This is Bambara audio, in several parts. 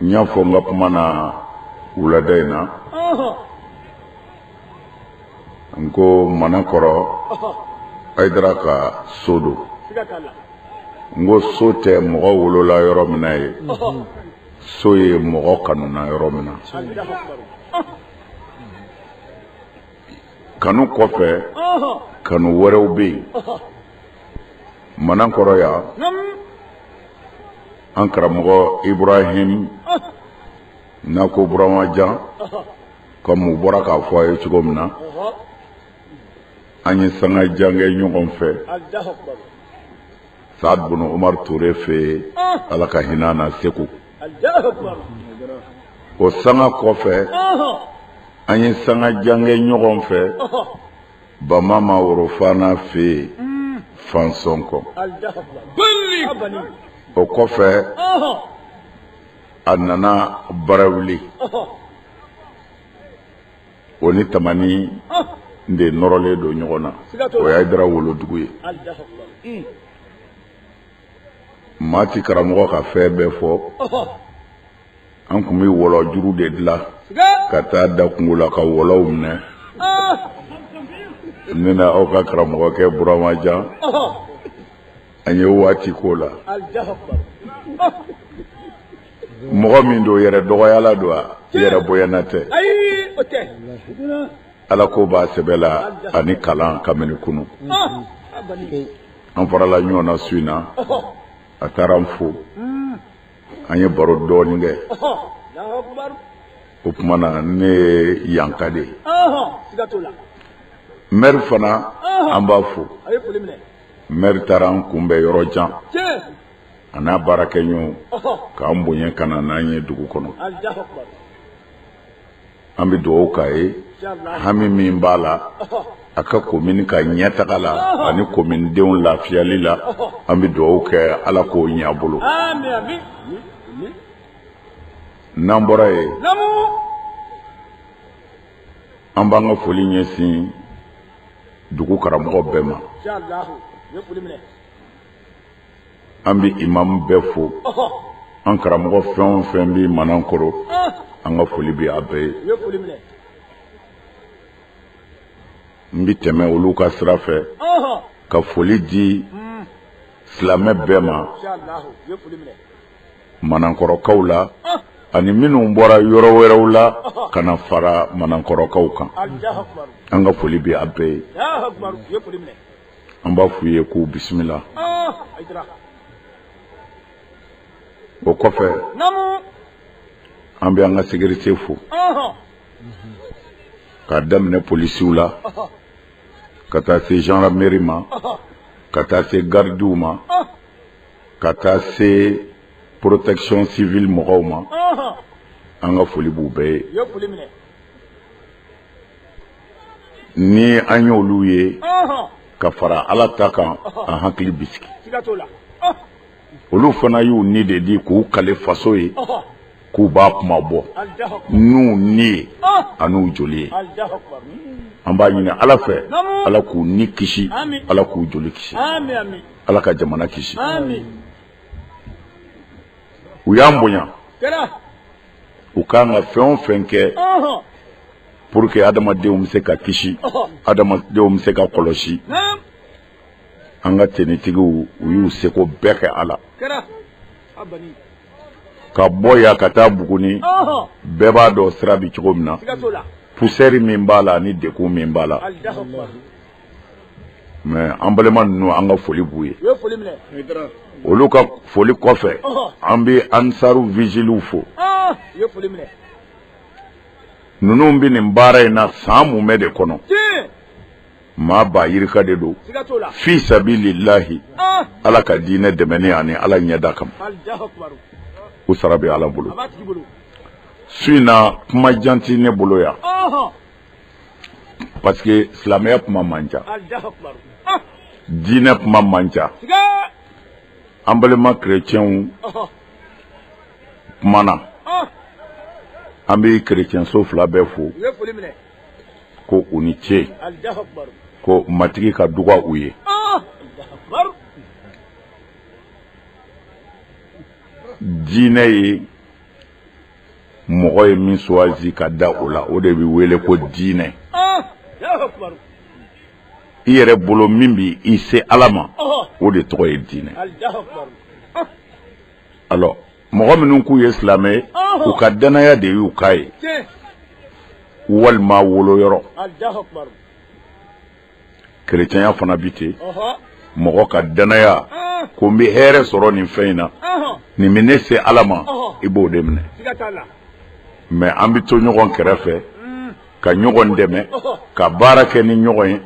n y'a fɔ n ka kuma na wulada in na n ko manankɔrɔ ayidara ka so don n ko so tɛ mɔgɔ wolola yɔrɔ min na ye so ye mɔgɔ kanuna yɔrɔ min na kanu kɔfɛ kanu wɛrɛw bɛ yen manankɔrɔ yan an karamɔgɔ ibrahim n'a ko burama jan komi u bɔra k'a fɔ a ye cogo min na an ye sanga jan kɛ ɲɔgɔn fɛ saad bun omar ture fɛ ala ka hinɛ a na segu o sanga kɔfɛ an ye sanga jan kɛ ɲɔgɔn fɛ ba mama worofana fɛ yen fansɔnkɔ o kɔfɛ a nana barawuli o ni tamani de nɔrɔlen don ɲɔgɔn na o ye ayidara wolodugu ye maa ti karamɔgɔ ka fɛn bɛɛ fɔ an tun bɛ wɔlɔjuru de dilan ka taa da kungo la ka wɔlɔw minɛ ne n'aw ka karamɔgɔkɛ burama jan an ye waati k'o la mɔgɔ min don yɛrɛdɔgɔyala don wa yɛrɛbonyana tɛ alako b'a sɛbɛ la ani kalan kabini kunu an farala ɲɔgɔn na su in na a taara n fo an ye baro dɔɔnin kɛ o tuma na ne ye yanka de ye mɛri fana an b'a fo mɛri taara an kunbɛn yɔrɔ jan a n'a baarakɛɲɔgɔnw k'an bonya ka na n'an ye dugu kɔnɔ an bɛ dugawu k'a ye hami min b'a la a ka komini ka ɲɛtaga la ani kominidenw lafiyali la an bɛ dugawu kɛ ala k'o ɲɛ a bolo n'an bɔra yen an b'an ka foli ɲɛsin dugu karamɔgɔ bɛɛ ma an bɛ imamu bɛɛ fo an karamɔgɔ fɛn o fɛn bɛ manankɔrɔ an ka foli bɛ a bɛɛ ye n bɛ tɛmɛ olu ka sira fɛ ka foli di silamɛ bɛɛ ma manankɔrɔkaw la ani minnu bɔra yɔrɔ wɛrɛw la ka na fara manankɔrɔkaw kan an ka foli bɛ a bɛɛ ye an b'a f'u ye k'u bisimila o kɔfɛ an bɛ an ka sécurité fo k'a daminɛ polisiw la ka taa se gendarmerie ma ka taa se gardiw ma ka taa se protection civile mɔgɔw ma an ka foli b'u bɛɛ ye ni an y'olu ye ka fara ala ta kan an hakili bi sigi olu fana y'u ni de di k'u kali faso ye k'u b'a kunmabɔ n'u ni ye an'u joli ye an b'a ɲini ala fɛ ala k'u ni kisi ala k'u joli kisi ala ka jamana kisi u y'an bonya u kan ka fɛn o fɛn kɛ pour que adamadenw bɛ se ka kisi adamadenw bɛ se ka kɔlɔsi an ka tenitigiw u y'u seko bɛɛ kɛ a la ka bɔ yan ka taa Buguni bɛɛ b'a dɔn sira bɛ cogo min na poussière min b'a la ani degun min b'a la mais an balima ninnu an ka foli b'u ye olu ka foli kɔfɛ an bɛ ansaru vigiliw fo ninnu bɛ nin baara in na san mumɛ de kɔnɔ maa ba yirika de don fi sabilillahi ah! ala ka diinɛ dɛmɛni ani ala ɲɛda kama u sara bɛ ala bolo su in na kuma jan tɛ ne bolo yan parce que silamɛya kuma man ca ah! diinɛ kuma man ca an balima kerecɛnw tuma na an bɛ kerecɛnso fila bɛɛ fo ko u ni ce ko matigi ka duga u ye diinɛ ye mɔgɔ ye min choisi ka da o la o de bɛ wele ko diinɛ i yɛrɛ bolo min bɛ i se ala ma o de tɔgɔ ye diinɛ alors mɔgɔ minnu k'u ye silamɛ ye u ka dannaya de y'u k'a ye walima woloyɔrɔ kerecɛnya fana bi ten mɔgɔ ka dannaya ko n bɛ hɛrɛ sɔrɔ nin fɛn in na nin bɛ ne se ala ma i b'o de minɛ mais an bɛ to ɲɔgɔn kɛrɛfɛ ka ɲɔgɔn dɛmɛ ka baara kɛ ni ɲɔgɔn ye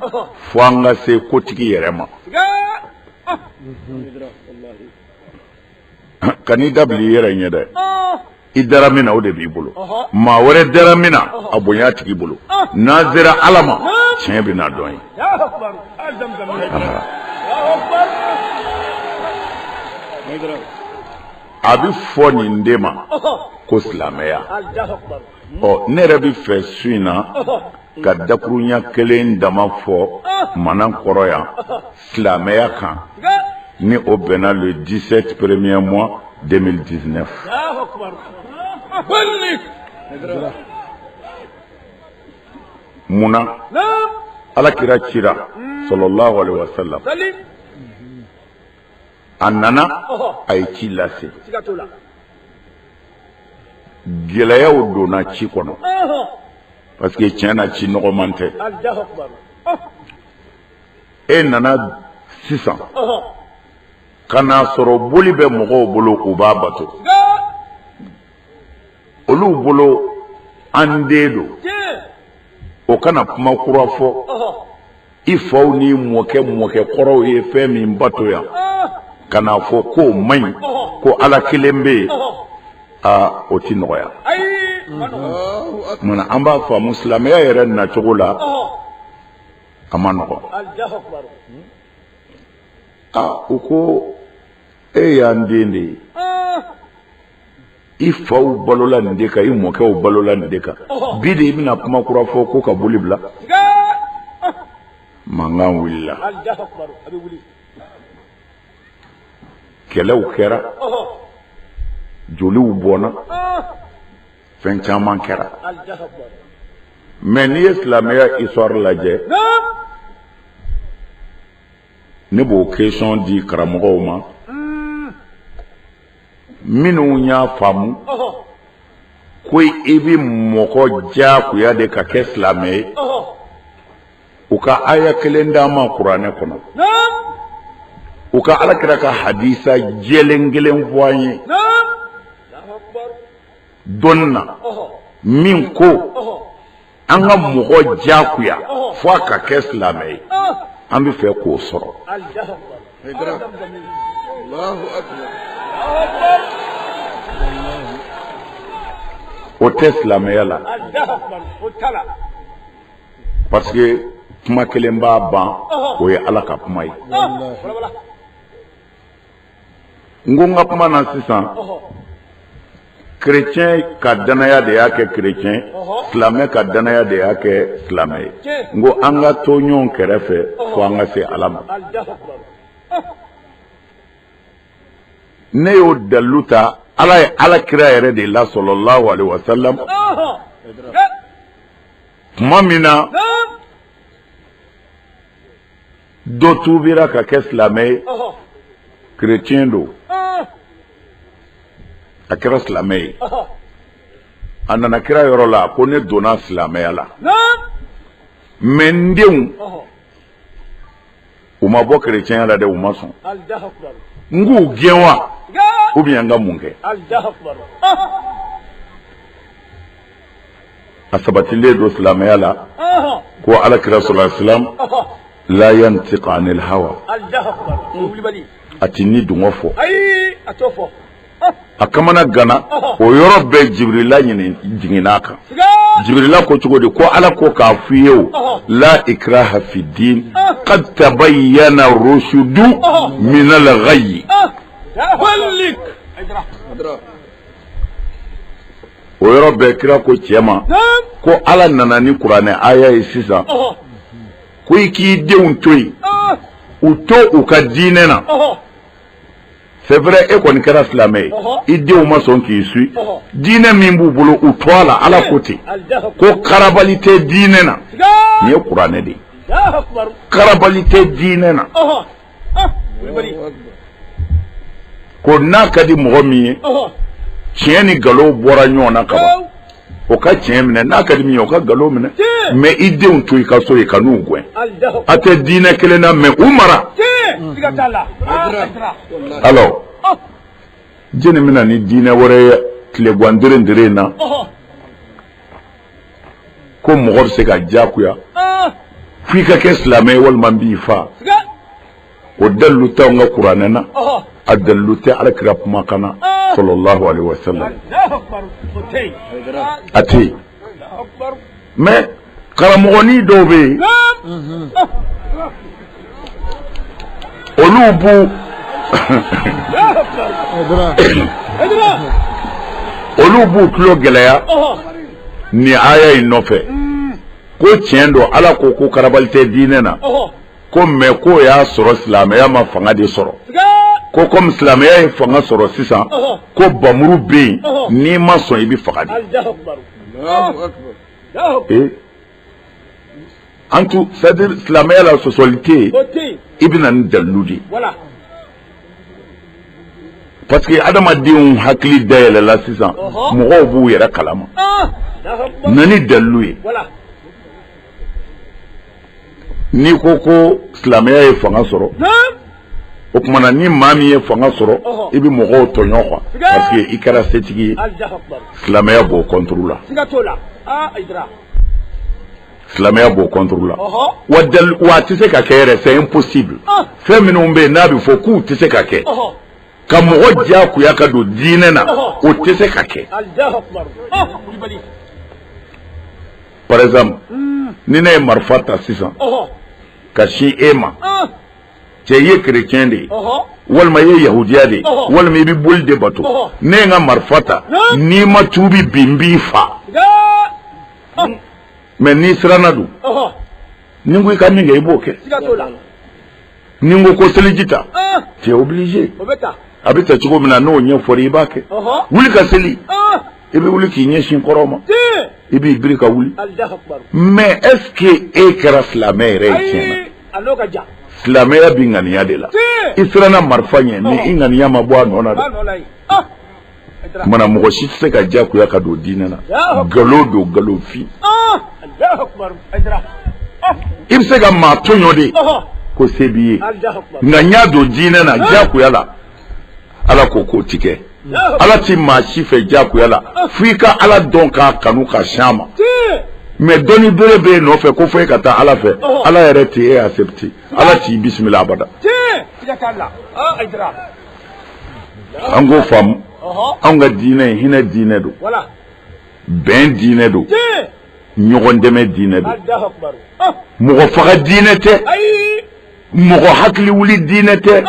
fo an ka se kotigi yɛrɛ ma kan'i dabili i yɛrɛ ɲɛ dɛ i dara min na o de b'i bolo maa wɛrɛ dara min na a bonya tigi bolo n'an sera ala ma tiɲɛ bɛna dɔn yen a bɛ fɔ nin de ma ko silamɛya ɔ ne yɛrɛ bɛ fɛ su in na ka dakurunya kelen dama fɔ manankɔrɔ yan silamɛya kan ni o bɛnna le 17 premier mois 2019 mun na alakira cira salalahu alaihi wa salam a nana a ye ci lase gɛlɛyaw donna ci kɔnɔ parce que tiɲɛ na ci nɔgɔman tɛ e nana sisan ka n'a sɔrɔ boli bɛ mɔgɔw bolo u b'a bato olu bolo an den don o ka na kuma kura fɔ i faw ni mɔkɛ mɔkɛ kɔrɔw ye fɛn min bato yan ka n'a fɔ k'o man ɲi ko ala kelen bɛ yen aa o ti nɔgɔya munna an b'a faamu silamɛya yɛrɛ nacogo la a man nɔgɔn aa u ko e y'an den de ye i faw balola nin de kan i mɔkɛw balola nin de kan bi de i bɛna kuma kura fɔ ko ka boli bila mankan wulila kɛlɛw kɛra joliw bɔnna fɛn caman kɛra mais n'i ye silamɛya histoire lajɛ ne b'o question di karamɔgɔw ma minnu y'a faamu ko i bɛ mɔgɔ diyagoya de ka kɛ silamɛ ye u ka aya kelen d'an ma kuranɛ kɔnɔ u ka alakira ka hadisa jɛlen kelen fɔ an ye dɔnni na min ko an ka mɔgɔ diyagoya fo a ka kɛ silamɛ ye an bɛ fɛ k'o sɔrɔ o tɛ silamɛya la parce que kuma kelen b'a ban o ye ala ka kuma ye n ko n ka kuma na sisan kerecɛn ka dannaya de y'a kɛ kerecɛn silamɛ ka dannaya de y'a kɛ silamɛ ye n ko an ka to ɲɔgɔn kɛrɛfɛ fo an ka se ala ma ne y'o dalilu ta ala ye ala kira yɛrɛ de la sallallahu alaihi wasallam tuma min na dɔ tuubira ka kɛ silamɛ ye kerecɛn don a kɛra silamɛ ye a nana kira yɔrɔ la ko ne donna silamɛya la mais n denw u ma bɔ kerecɛnya la dɛ u ma sɔn n k'u gɛn wa ou bien n ka mun kɛ a sabatilen don silamɛya la ko ala kira sallallahu alaihi wasallam la yantiqu anil hawa a tɛ ni dungɔ fɔ a kamanaganna o yɔrɔ bɛɛ jibirila jiginna a kan jibirila ko cogo di ko ala ko k'a f'i ye ko la ikraha fid-din qad tabayyana rushdu min al-ghayy o yɔrɔ bɛɛ kira ko cɛ ma ko ala nana ni kuranɛ aya ye sisan ko i k'i denw to yen u to u ka diinɛ na c'est vrai e kɔni kɛra silamɛ ye i denw ma sɔn k'i suivre diinɛ min b'u bolo u to a la ala ko ten ko karabali tɛ diinɛ na nin ye kuranɛ de ye karabali tɛ diinɛ na ko n'a ka di mɔgɔ min ye tiɲɛ ni nkalon bɔra ɲɔgɔn na kaban o ka tiɲɛ minɛ n'a ka di min ye o ka nkalon minɛ mais i denw to i ka so yen kan'u gɛn a tɛ diinɛ kelen na mais u mara alors jɛni bɛ na ni diinɛ wɛrɛ ye tilegwan deren deren na ko mɔgɔ bɛ se ka diyagoya f'i ka kɛ silamɛ ye walima b'i faga o dalu tɛ an ka kuranɛ na a dalu tɛ ala kira kuma kan na sallallahu alaihi wa sallam a tɛ yen mais karamɔgɔnin dɔw bɛ yen olu b'u olu b'u tulo gɛlɛya ni aya in nɔfɛ ko tiɲɛ don ala ko ko karabali tɛ diinɛ na ko mais k'o y'a sɔrɔ silamɛya ma fanga de sɔrɔ ko komi silamɛya ye fanga sɔrɔ sisan ko bamuru bɛ yen n'i ma sɔn i bɛ faga dɛ An tun c'est-à-dire silamɛya la sɔsɔli tɛ yen i bɛ na ni dalu de parce que adamadenw hakili dayɛlɛla sisan mɔgɔw b'u yɛrɛ kalama na ni dalu ye n'i ko ko silamɛya ye fanga sɔrɔ o tuma na ni maa min ye fanga sɔrɔ i bɛ mɔgɔw tɔɲɔ quoi parce que i kɛra setigi ye silamɛya b'o contre la silamɛya b'o contre la wa dali wa a tɛ se ka kɛ yɛrɛ c'est impossible fɛn minnu bɛ yen n'a bɛ fɔ k'u tɛ se ka kɛ ka mɔgɔ diyagoya ka don diinɛ na o tɛ se ka kɛ par exemple ni ne ye marifa ta sisan ka sin e ma. cɛ i ye kerecɛn de ye walima i ye yahudiya de ye walima i bɛ boli de bato ne ye n ka marifa ta n'i ma tuubi bi n b'i fa mais n'i siranna dun ni n ko i ka min kɛ i b'o kɛ ni n ko ko seliji ta tu es obligé a bɛ ta cogo min na n'o ɲɛfɔra i b'a kɛ wuli ka seli i bɛ wuli k'i ɲɛsin kɔrɔn ma i b'i biri ka wuli mais est-ce que e kɛra silamɛ yɛrɛ ye tiɲɛ na silamɛya bɛ ŋaniya de la i siranna marifa ɲɛ mais i ŋaniya ma bɔ a nɔ na o tuma na mɔgɔ si tɛ se ka diyagoya ka don diinɛ na nkalon don nkalonfin ah! ah! i bɛ se ka maa tɔɲɔ de ko se b'i ye nka n y'a don diinɛ na diyagoya la ala ko k'o ti kɛ ala ti maa si fɛ diyagoya la fo i ka ala dɔn k'a kanu ka sin a ma mais dɔ ni bere bɛ e nɔfɛ ko fo e ka taa ala fɛ ala yɛrɛ tɛ e accepte ala t'i bisimila abada an k'o faamu anw ka diinɛ in hinɛ diinɛ don bɛn diinɛ don ɲɔgɔn dɛmɛ diinɛ don mɔgɔ faga diinɛ tɛ mɔgɔ hakili wuli diinɛ tɛ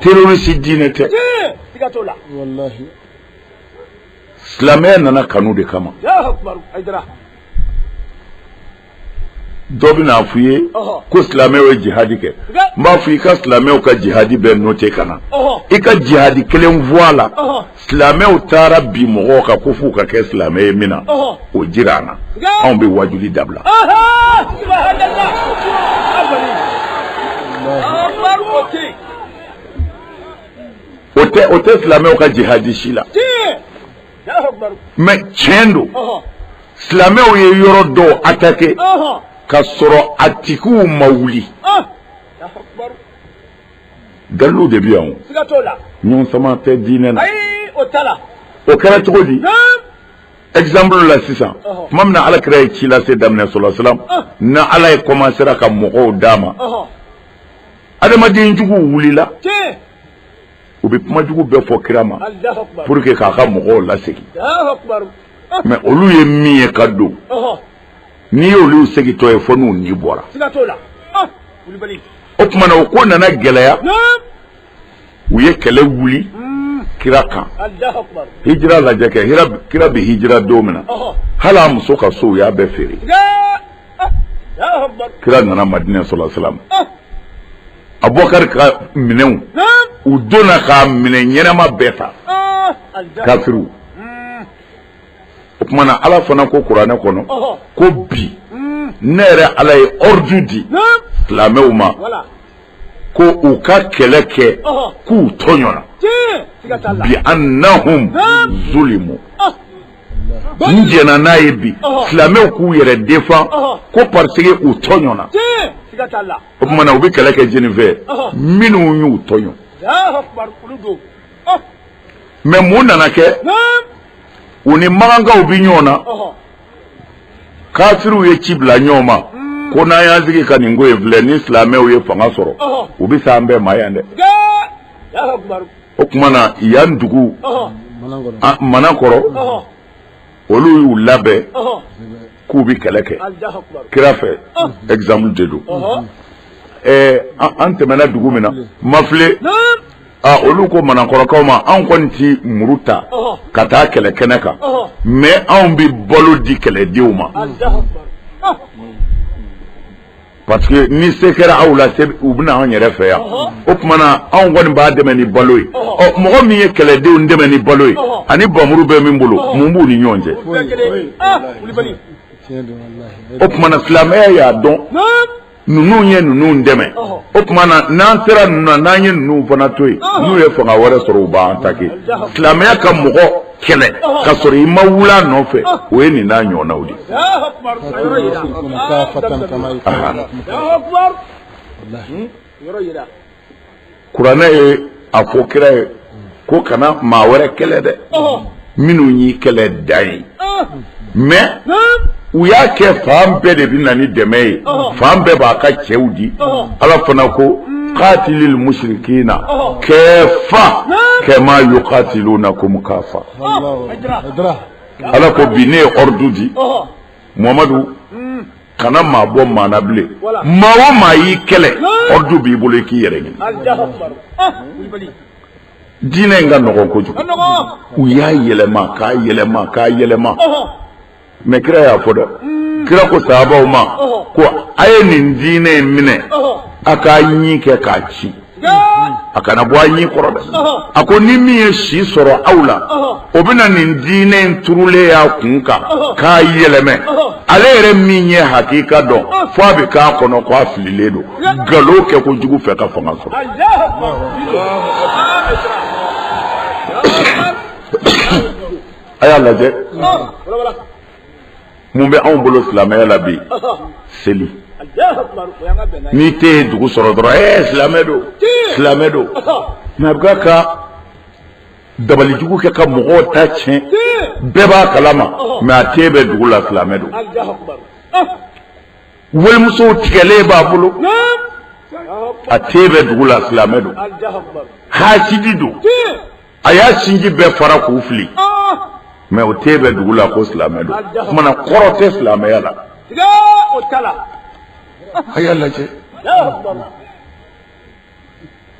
terroriste diinɛ tɛ silamɛya nana kanu de kama dɔ bɛn'a f'i ye ko silamɛw ye jihadi kɛ n b'a fɔ i ka silamɛw ka jihadi bɛɛ note ka na i ka jihadi kelen fɔ a la silamɛw taara bin mɔgɔw kan ko f'u ka kɛ silamɛ ye min na o jira an na anw bɛ wajuli dabila o tɛ o tɛ silamɛw ka jihadi si la mais tiɲɛ don silamɛw ye yɔrɔ dɔw atake ka sɔrɔ a tigiw ma wuli Dalu de bɛ yan ɲɔgɔn sama tɛ diinɛ na o kɛra cogo di ɛgizanpulu la sisan tuma min na ala kira ye ci lase daminɛ sala salam n'ala ye kɔmansera ka mɔgɔw d'a ma adamadenjugu wulila u bɛ kumajugu bɛɛ fɔ kira ma pour que k'a ka mɔgɔw lasegin mɛ olu ye min ye ka don n'i y'olu segintɔ ye fo n'u ni bɔra ah, o tuma na o ko nana gɛlɛya u ye kɛlɛ wuli hmm. kira kan hijira lajɛ kɛ kira bɛ hijira don min na hali a muso ka so u y'a bɛɛ feere ah, kira nana madinɛ sala salam ah. abubakari ka minɛnw u donna k'a minɛn ɲɛnama bɛɛ ta kafiriw o tuma na ala fana ko kuranɛ kɔnɔ ko bi ne yɛrɛ ala ye ɔrdu di silamɛw ma ko u ka kɛlɛ kɛ k'u tɔɲɔna biannahum zulimu n jɛnna n'a ye bi silamɛw k'u yɛrɛ defan ko pariseke u tɔɲɔna o tuma na u bɛ kɛlɛ kɛ jɛni fɛ minnu y'u tɔɲɔ mɛ mun nana kɛ u ni makankaw bɛ ɲɔgɔn na kafiriw ye ci bila ɲɔgɔn ma hmm. ko n'an y'an sigi ka nin ko in filɛ ni silamɛw ye fanga sɔrɔ u bɛ se an bɛɛ ma yan dɛ o tuma na yan dugu manakɔrɔ olu y'u labɛn k'u bɛ kɛlɛ kɛ kira fɛ ɛgizanpulu de don ɛɛ an tɛmɛna dugu min na mafile Aa olu ko manakɔrɔkaw ma anw kɔni tɛ muru ta ka taa kɛlɛ kɛnɛ kan mɛ anw bɛ balo di kɛlɛdenw ma parce que ni se kɛra aw la u bɛ na anw yɛrɛ fɛ yan o tuma na anw kɔni b'a dɛmɛ ni balo ye ɔ mɔgɔ min ye kɛlɛdenw dɛmɛ ni balo ye ani bamuru bɛ min bolo mun b'u ni ɲɔgɔn cɛ o tuma na silamɛya y'a dɔn ninnu ye ninnu dɛmɛ o tuma na n'an sera ninnu na n'an ye ninnu fana to yen n'u ye fanga wɛrɛ sɔrɔ u b'an ataki silamɛya ka mɔgɔ kɛlɛ ka sɔrɔ i ma wul'a nɔfɛ o ye nin n'a ɲɔgɔnnaw de ye. kuranɛ ye a fɔ kira ye ko kana maa wɛrɛ kɛlɛ dɛ minnu y'i kɛlɛ dan yen mɛ u y'a kɛ fan bɛɛ de bɛ na ni dɛmɛ ye fan bɛɛ b'a ka cɛw di ala fana ko katilil musirikina kafa kama yukatilunakum kafa ala ko bi ne ye ɔridu di mamadu kana maa bɔ maa na bilen maa o maa y'i kɛlɛ ordre b'i bolo i k'i yɛrɛ ɲini diinɛ in ka nɔgɔn kojugu u y'a yɛlɛma k'a yɛlɛma k'a yɛlɛma mɛ kira y'a fɔ dɛ kira ko sahabaw ma ko a ye nin diinɛ in minɛ a k'a ɲin kɛ k'a cin a kana bɔ a ɲin kɔrɔ dɛ a ko ni min ye si sɔrɔ aw la o bɛna nin diinɛ in turulen y'a kun kan k'a yɛlɛmɛ ale yɛrɛ min ye hakika dɔn fo a bɛ k'a kɔnɔ k'a fililen don nkalon kɛ kojugu fɛ ka fanga sɔrɔ a y'a lajɛ mun bɛ anw bolo silamɛya la bi seli n'i ten ye dugu sɔrɔ dɔrɔn ee eh, silamɛ don silamɛ don mɛ a bɛ ka dabalijugu kɛ ka mɔgɔw ta tiɲɛ bɛɛ b'a kalama mɛ a ten bɛ dugu la silamɛ don walimusow tigɛlen b'a bolo a ten bɛ dugu la silamɛ don hasidi don a y'a sinji bɛɛ fara k'u fili mɛ o ten bɛ dugu la ko silamɛ don kumana kɔrɔ tɛ silamɛya la a y'a lajɛ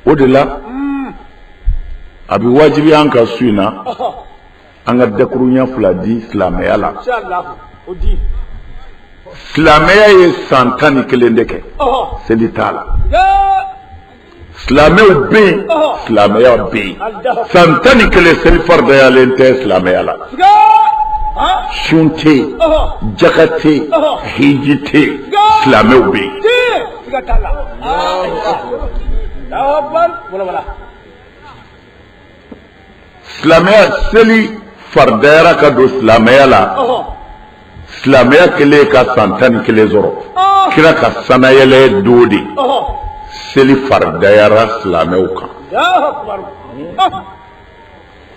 o de la a bɛ wajibiya an ka su in na an ka dakuruɲa fila di silamɛya la silamɛya ye san tan ni kelen de kɛ seli t'a la silamɛw bɛ yen silamɛya bɛ yen san tan ni kelen seli faridayalen tɛ silamɛya la sun tɛ yen jaka tɛ yen hiji tɛ yen silamɛw bɛ yen. silamɛya seli faridayara ka don silamɛya la silamɛya kɛlen ka san tan ni kelen sɔrɔ kira ka sanayɛlɛ don de seli faridayara silamɛw kan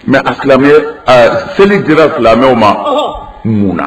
mɛ a silamɛya seli dira silamɛw ma mun na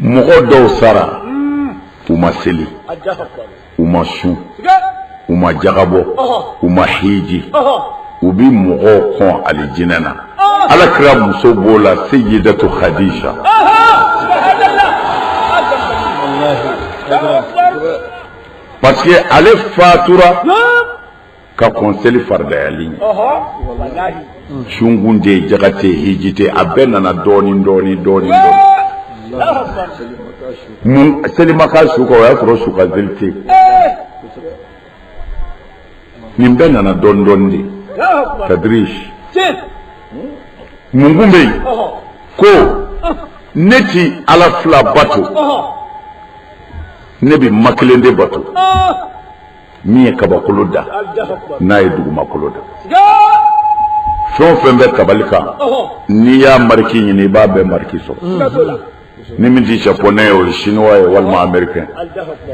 mɔgɔ dɔw sara u ma seli u ma sun u ma jaka bɔ u ma hiji u bi mɔgɔw kɔn alijinɛ na ala kira muso b'o la seyidatu kadija parce que ale fatura ka kɔn seli faridayali ɲɛ sun kun tɛ jaka tɛ hiji tɛ a bɛɛ nana dɔɔnin dɔɔnin dɔɔnin mun seli ma kɛ su kan o y'a sɔrɔ su kan seli tɛ yen nin bɛɛ nana dɔɔnin dɔɔnin de tadriji min kun bɛ yen ko ne ti ala fila bato ne bɛ ma kelen de bato min ye kabakolo da n'a ye dugumakolo da fɛn o fɛn bɛ tabali kan n'i y'a mariki ɲini i b'a bɛɛ mariki sɔrɔ mm-hmm. ni min tɛ japonɛ ye o ye sinuwa ye walima amerikɛn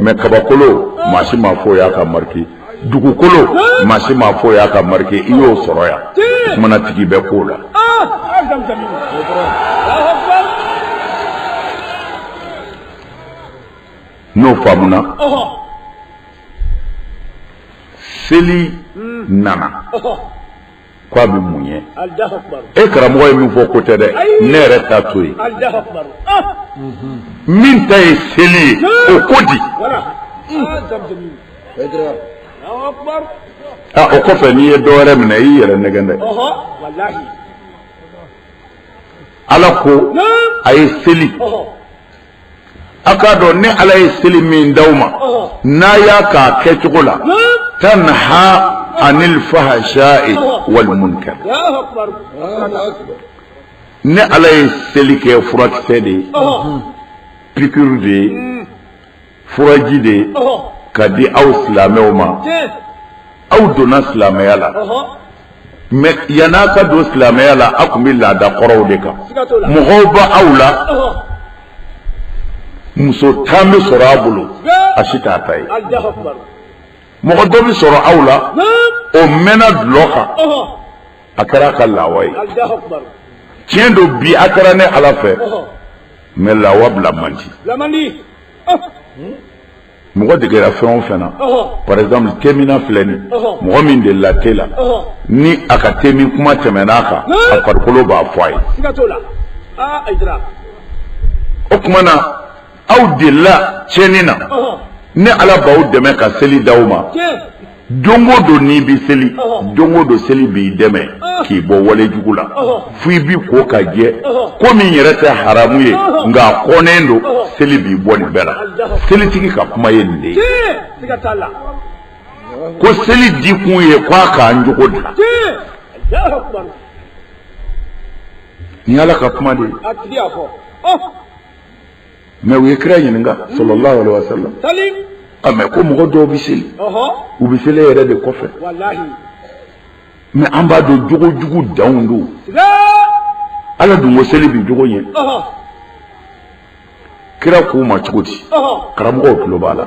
mɛ kabakolo maa si m'a fɔ y'a ka mariki dugukolo maa si m'a fɔ y'a ka mariki i y'o sɔrɔ yan o kuma na tigi bɛ ko la ah! n'o faamuna seli hmm. nana ko a bɛ mun ɲɛ e karamɔgɔ ye min fɔ ko tɛ dɛ ne yɛrɛ ta to yen ah. min ta ye seli ye o ko di ah, o kɔfɛ n'i ye dɔ wɛrɛ minɛ i y'i yɛrɛ nɛgɛn dɛ ala ko a ye seli a k'a dɔn ne ala ye seli min d'aw ma n'a y'a k'a kɛcogo la tanha anil fahasha'i wal munkar ne ala ye seli kɛ furakisɛ de ye piqûre de ye furaji de ye ka di aw silamɛw ma aw donna silamɛya la mɛ yan'a ka don silamɛya la a tun bɛ laada kɔrɔw de kan mɔgɔ bɛ aw la muso tan bɛ sɔrɔ a bolo a si t'a ta ye mɔgɔ dɔ bɛ sɔrɔ aw la o mɛnna dɔlɔ kan a kɛra a ka lawa ye tiɲɛ don bi a kɛra ne ala fɛ mɛ lawa bila man di mɔgɔ degera fɛn o fɛn na par exemple teminna filɛ nin mɔgɔ min delila te la ni a ka temin kuma tɛmɛn'a kan a farikolo b'a fɔ a ye ah, o tuma na aw delila tiɲɛni na ne ala b'aw dɛmɛ ka seli d'aw ma don o don n'i bɛ seli don o don seli b'i dɛmɛ k'i bɔ wale jugu la fo i b'i ko ka jɛ ko min yɛrɛ tɛ haramu ye nka a kɔnnen don seli b'i bɔ nin bɛɛ la selitigi ka kuma ye nin de ye ko seli di kun ye ko a k'an jogo dilan nin y'ala ka kuma de ye mɛ u ye kira ɲininka salalahu alayhi wa salam ko mɔgɔ dɔw bɛ seli u bɛ seli yɛrɛ de kɔfɛ mɛ an b'a dɔn jogo jugu danw don ala dun ko seli bi jogo ɲɛ kira k'u ma cogo di karamɔgɔw tulo b'a la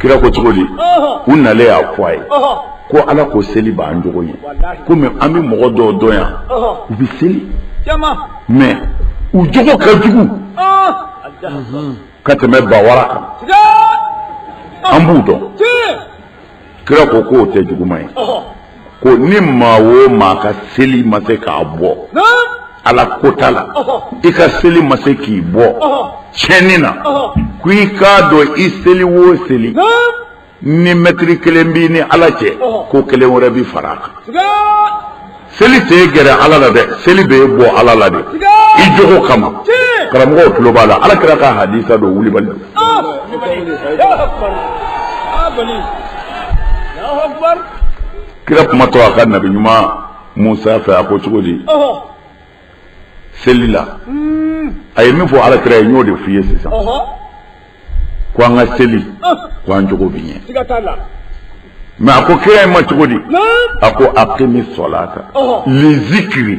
kira ko cogo di u nalen y'a fɔ a ye ko ala ko seli b'an jogo ɲɛ komi an bɛ mɔgɔ dɔw dɔn yan u bɛ seli mɛ u jogo ka jugu ka tɛmɛ bawara kan an b'u dɔn kira ko k'o tɛ juguman ye ko ni maa o maa ka seli ma se k'a bɔ ala kota la i ka seli ma se k'i bɔ tiɲɛni na ko i k'a dɔn i seli o seli ni mɛtiri kelen b'i ni ala cɛ ko kelen wɛrɛ bi fara a kan seli t'i gɛrɛ ala la dɛ seli b'i bɔ ala la de i jogo kama karamɔgɔw tulo b'a la ala kira ka hadisa don wulibali don. kira kuma to a ka nabi ɲuman musa fɛ a ko cogo di seli la a ye min fɔ ala kira ye n y'o de f'i ye sisan ko an ka seli ko an jogo bɛ ɲɛ mɛ a ko kira in ma cogo di a ko aqimi salata lizikiri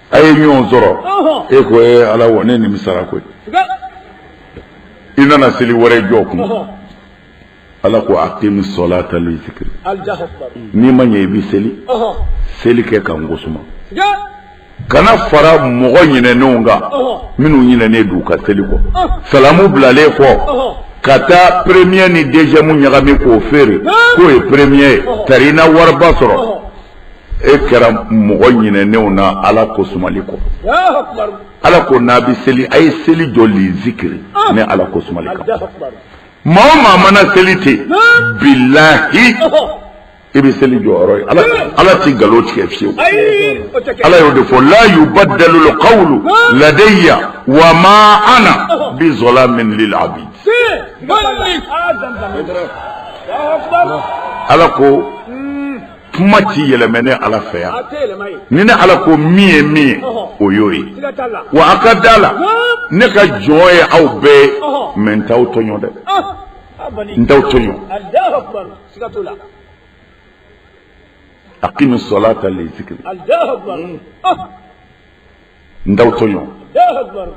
A ye ɲɔgɔn sɔrɔ e ko ye ala wa ne nimisara koyi i nana seli wɛrɛ jɔ kun ala ko aqimi salata lizikiri n'i ma ɲɛ i bɛ seli seli kɛ ka n ko suma kana fara mɔgɔ ɲinɛnenw kan minnu ɲinɛnen don u ka seli kɔ salamu bilalen kɔ ka taa premier ni deuxième ɲagami k'o feere k'o ye premier ye ka i na wariba sɔrɔ e kɛra mɔgɔ ɲinɛnenw na ala ko sumali kɔ ala ko n'a bɛ seli a ye seli jɔ lizikiri ah. ne ala ko sumali kan maa o maa mana seli ten bilahi i bɛ seli jɔyɔrɔ ye ala ala ti nkalon tigɛ fiyewu ala y'o de fɔ la yubaddalu lqawlu ah. ladayya wa ma ana oh. bi zalamin lil abid ala ko kuma ti yɛlɛma ne ala fɛ yan ni ne ala ko min ye min ye o y'o ye wa a ka da a la ne ka jɔn ye aw bɛɛ ye mɛ n t'aw tɔɲɔ dɛ n t'aw tɔɲɔ aqimi salata lizikiri n t'aw to ɲɔgɔn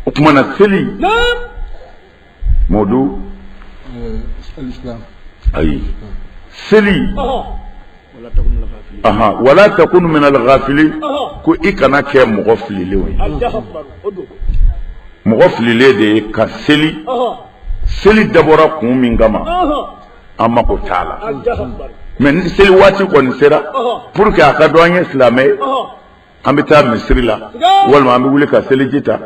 o tuma na seli mɔdu ayi seli aha wala takunu min alghafilin ko i kana kɛ mɔgɔ fililenw ye mɔgɔ fililen de ye ka seli seli dabɔra kun min kama an mako t'a la mais ni seli waati kɔni sera pour que a ka dɔn an ye silamɛ ye an bɛ taa misiri la walima an bɛ wuli ka seliji ta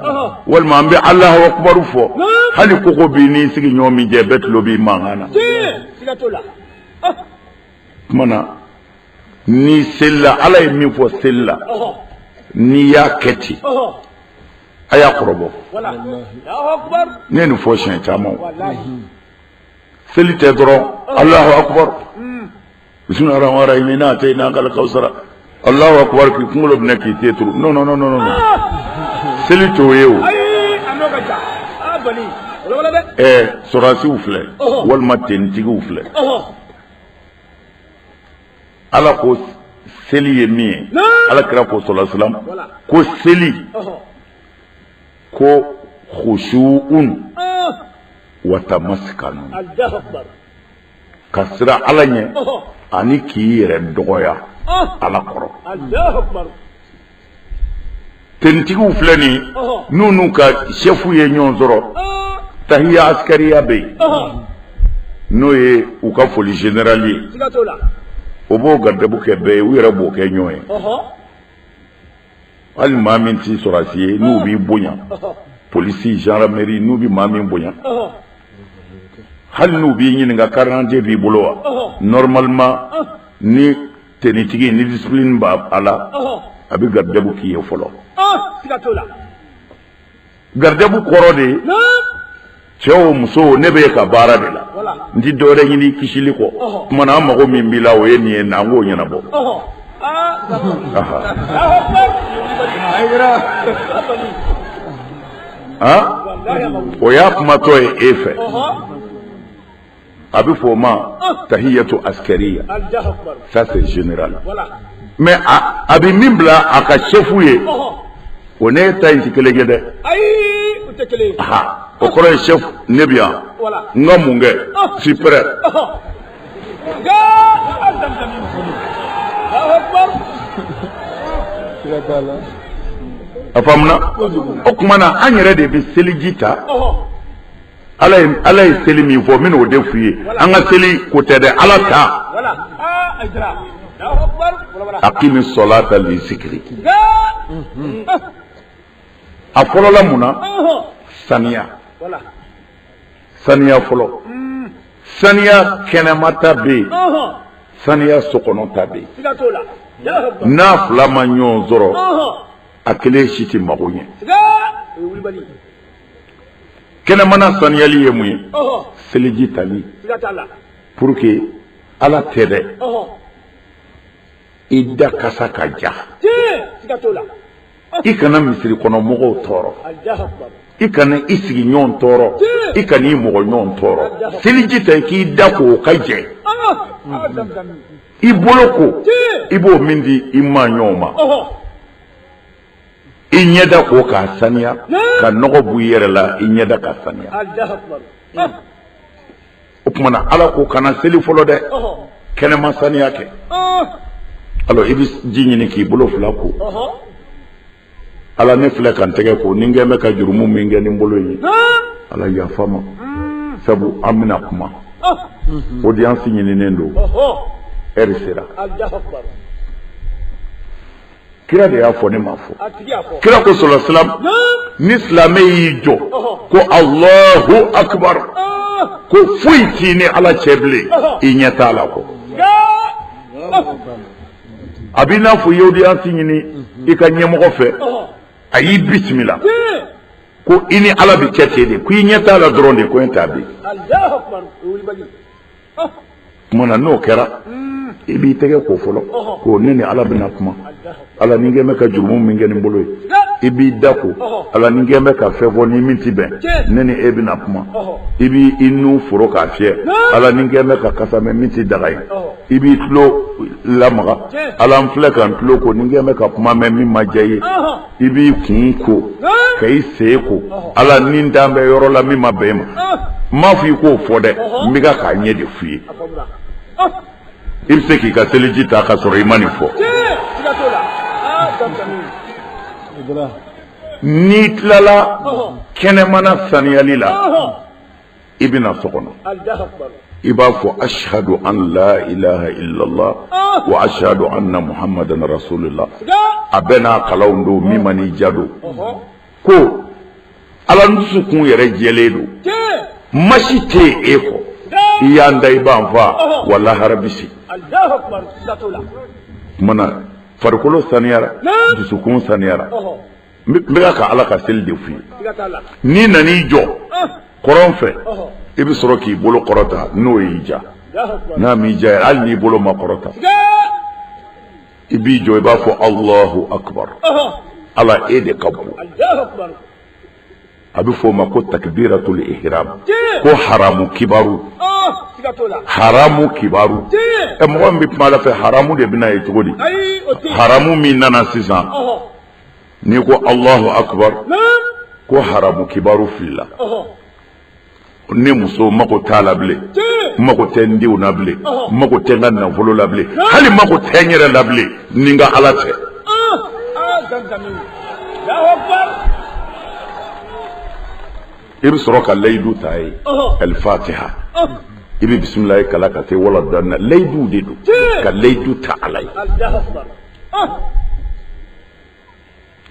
walima an bɛ alahu akubaru fɔ hali koko b'i n'i sigiɲɔgɔn min cɛ bɛɛ tulo b'i mankan na tuma na n'i selila ala ye min fɔ seli la n'i y'a kɛ ten a y'a kɔrɔbɔ ne ye nin fɔ siɲɛ caman seli tɛ dɔrɔn alahu akubaru bisimila rahman rahim ina atayina kala kawusara alahu akubaru k'i kunkolo minɛ k'i ten turu non non non non non seli t'o ye o ɛɛ sɔrɔdasiw filɛ walima tenitigiw filɛ ala ko seli ye min ye ala kira ko salalahu alayhi wasalam ko seli ko khushu'un wa tamaskanu ka siran ala ɲɛ ani k'i yɛrɛ dɔgɔya ala kɔrɔ tenitigiw filɛ nin n'u n'u ka sɛfu ye ɲɔgɔn sɔrɔ tahiya askariya bɛ yen n'o ye u ka foli generali ye o b'o garidabu kɛ bɛɛ ye u yɛrɛ b'o kɛ ɲɔgɔn ye hali maa min tɛ sɔrɔdasi ye n'u b'i bonya polisi gendarmerie n'u bɛ maa min bonya hali n'u b'i ɲininka carte b'i bolo wa normalement ni tenitigi ni discipline b'a la a bɛ garidabu k'i ye fɔlɔ. garidabu kɔrɔ de ye cɛ o muso o ne bɛ i ka baara de la n tɛ dɔwɛrɛ ɲini kisili kɔ tuma na an mago min b'i la o ye nin ye na an k'o ɲɛnabɔ o y'a kumatɔ ye e fɛ a bɛ fɔ o ma tahiyatu askariya ça c'est général mais a a bɛ min bila a ka chef ye o n'e ta in tɛ kelen ye dɛ o kɔrɔ ye chef ne bɛ yan n ka mun kɛ je suis prêt a faamuna o tuma na an yɛrɛ de bɛ seliji ta ala ye ala ye seli min fɔ n bɛna o de f'u ye an ka seli ko tɛ dɛ ala ta akimi sɔlata li zikiri a fɔlɔla mun na saniya saniya fɔlɔ saniya kɛnɛmata bɛ yen saniya sokɔnɔta bɛ yen n'a fila ma ɲɔgɔn sɔrɔ a kelen si tɛ mago ɲɛ kɛnɛmana saniyali ye mun ye seliji tali pour que ala tɛ dɛ i da kasa ka ja i kana misiri kɔnɔ mɔgɔw tɔɔrɔ i kana i sigiɲɔgɔn tɔɔrɔ i kana i mɔgɔɲɔgɔn tɔɔrɔ seliji ta k'i da ko o ka jɛ i bolo ko i b'o min di i maaɲɔgɔn ma i ɲɛda ko k'a saniya ka nɔgɔ b'i yɛrɛ la i ɲɛda ka saniya o tuma na ala ko kana seli fɔlɔ dɛ kɛnɛma saniya kɛ i bɛ ji ɲini k'i bolo fila ko ala ne filɛ ka n tɛgɛ ko ni n kɛlen bɛ ka jurumu min kɛ nin bolo ye ala yafa n ma mm. sabu an bɛna kuma oh. mm-hmm. audience ɲininen don ɛri sera kira de y'a fɔ ne m'a fɔ kira ko sɔla salam ni silamɛ y'i jɔ ko alahu akibar ko foyi t'i ni ala cɛ bilen i ɲɛ t'a la ko a b'i n'a fɔ i ye audience ɲini i ka ɲɛmɔgɔ fɛ a y'i bisimila ko i ni ala bɛ kɛ ten de ko i ɲɛ t'a la dɔrɔn de ko n t'a bi tuma na n'o kɛra i b'i tɛgɛ ko fɔlɔ ko ne ni ala bɛna kuma ala ni n kɛlen bɛ ka jurumu min kɛ nin bolo ye i b'i da ko ala ni n kɛlen bɛ ka fɛn fɔ ni min tɛ bɛn ne ni e bɛna kuma i b'i nun foron k'a fiyɛ ala ni n kɛlen bɛ ka kasa mɛn min tɛ daga ye i b'i tulo lamaga ala n filɛ ka n tulo ko ni n kɛlen bɛ ka kuma mɛn min ma diya ye i b'i kun ko ka i sen ko ala ni n taalen bɛ yɔrɔ la min ma bɛn i ma n m'a fɔ i k'o fɔ dɛ n bɛ ka k'a ɲɛ de f'i ye i bɛ se k'i ka seliji ta ka sɔrɔ i ma nin fɔ n'i tilala kɛnɛmana saniyali la i bɛ na so kɔnɔ i b'a fɔ asihadu an la ilaha illallah wa asihadu anna muhammadan rasulillah a bɛɛ n'a kalanw don min man'i diya don ko ala n dusukun yɛrɛ jɛlen don maa si tɛ yen e kɔ i y'an da i b'an faa wa lahara bɛ se o tuma na farikolo saniyara dusukun saniyara n bɛka ka ala ka seli de f'i ye n'i nan'i jɔ kɔrɔn fɛ i bɛ sɔrɔ k'i bolo kɔrɔta n'o y'i diya n'a m'i diya yɛrɛ hali n'i bolo ma kɔrɔta i b'i jɔ i b'a fɔ alahu akubar ala e de ka bon a bɛ f'o ma ko takibiratul ihram ko haramu kibaru haramu kibaru ɛ mɔgɔ min bɛ kuma ala fɛ haramu de bɛ na yen cogo di haramu min nana sisan N'i ko alahu akubar ko haramu kibaru filila ne muso mako t'a la bilen mako tɛ n denw na bilen mako tɛ n ka nafolo la bilen hali mako tɛ n yɛrɛ la bilen ni n ka ala cɛ i bɛ sɔrɔ ka layidu t'a ye alfatiha i bɛ bisimilahi kalan ka se wala daalina layidu de don ka layidu ta ala ye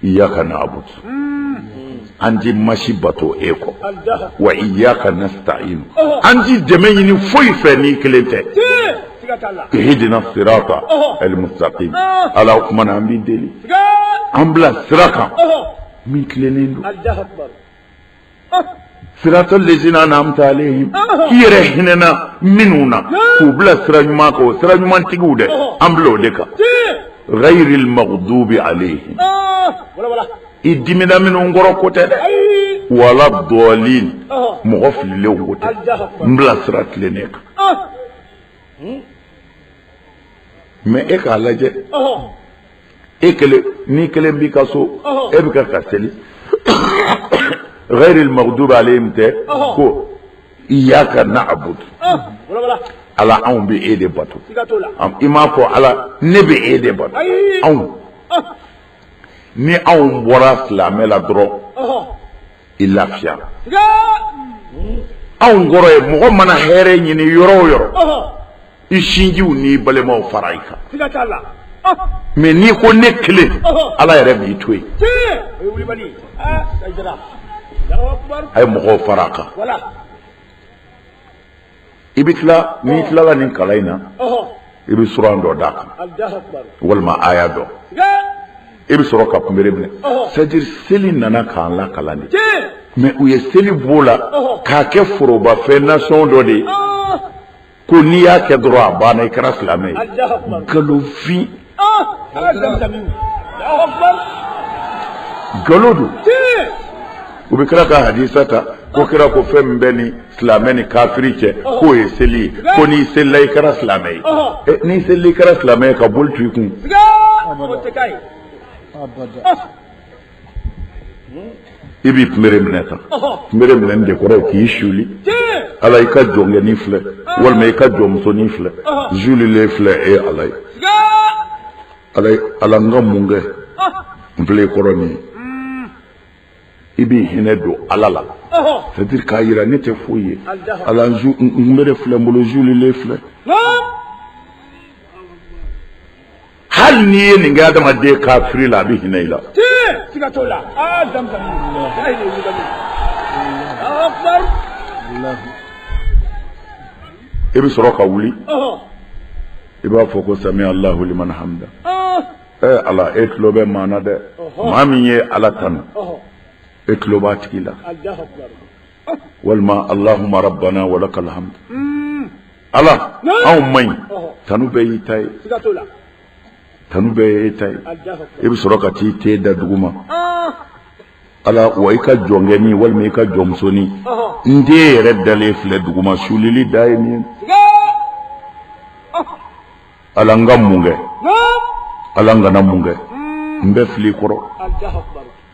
Iyyaka na'budu an tɛ maa si bato e kɔ wa iyyaka nasta'inu an tɛ dɛmɛ ɲini foyi fɛ n'i kelen tɛ ihdina sirata almustakim ala o tuma na an b'i deli an bila sira kan min tilennen don sirata lezina an'amta alayhim i yɛrɛ hinɛna minnu na k'u bila sira ɲuman kan o sira ɲuman tigiw dɛ an bila o de kan ghayril maghdubi alayhim i dimina minnu kɔrɔ k'o tɛ dɛ wala dɔɔlin mɔgɔ fililenw o tɛ n bila sira tilennen kan mɛ e k'a lajɛ e kelen n'i kelen b'i ka so e bɛ ka ka seli ghayri al-maghdubi alayhim tɛ ko iyyaka na'budu ala anw bɛ e de bato i m'a fɔ ala ne bɛ e de bato anw ni anw bɔra silamɛ la dɔrɔn i lafiya anw kɔrɔ ye mɔgɔ mana hɛrɛ ɲini yɔrɔ o yɔrɔ i sinjiw n'i balimaw fara i kan mɛ n'i ko ne kelen ala yɛrɛ b'i to yen a ye mɔgɔw fara a kan i bɛ tila n'i tilala nin kalan in na i bɛ suran dɔ d'a kan walima aya dɔ i bɛ sɔrɔ ka kunbere minɛ c'est-à-dire seli nana k'an lakalan de mɛ u ye seli b'o la k'a kɛ forobafɛn nation dɔ de ye ko n'i y'a kɛ dɔrɔn a banna i kɛra silamɛ ye nkalonfin nkalon don u bɛ kira ka hadisa ta ko kira ko fɛn min bɛ ni silamɛ ni kafiri cɛ k'o ye seli ye ko n'i selila i kɛra silamɛ ye ɛ n'i selila i kɛra silamɛ ye ka boli tu i kun. i b'i kunbere minɛ tan kunbere minɛ de kɔrɔ k'i suuli ala i ka jɔnkɛnin filɛ walima i ka jɔnmusonin filɛ n suulilen filɛ e ye ala ye ala ala n ka mun kɛ n filɛ i kɔrɔ nin ye i b'i hinɛ don ala la c'est à dire k'a jira ne tɛ foyi ye ala n kunbere filɛ n bolo n suulilen filɛ hali n'i ye nin kɛ adamaden kafiri la a bɛ hinɛ i la siga t'o la aa zamzam a ye nin wuli ka min Allahu akbar i bɛ sɔrɔ ka wuli ɔhɔ i b'a fɔ ko sami Allahu liman hamida ɔɔ ee ala e tulo bɛ maa na dɛ maa min ye ala tanu ɔhɔ e tulo b'a tigi la Allahu akbar walima alahuma rabana walakal hamdu ala anw matigi tanu bɛɛ y'i ta ye tanu bɛɛ e ta ye e bɛ sɔrɔ ka t'i ten da dugu ma ala wa i ka jɔnkɛnin walima i ka jɔnmusonin n ten yɛrɛ dalen filɛ dugu ma sulili da ye min ala n ka mun kɛ ala n kana mun kɛ n bɛɛ filɛ i kɔrɔ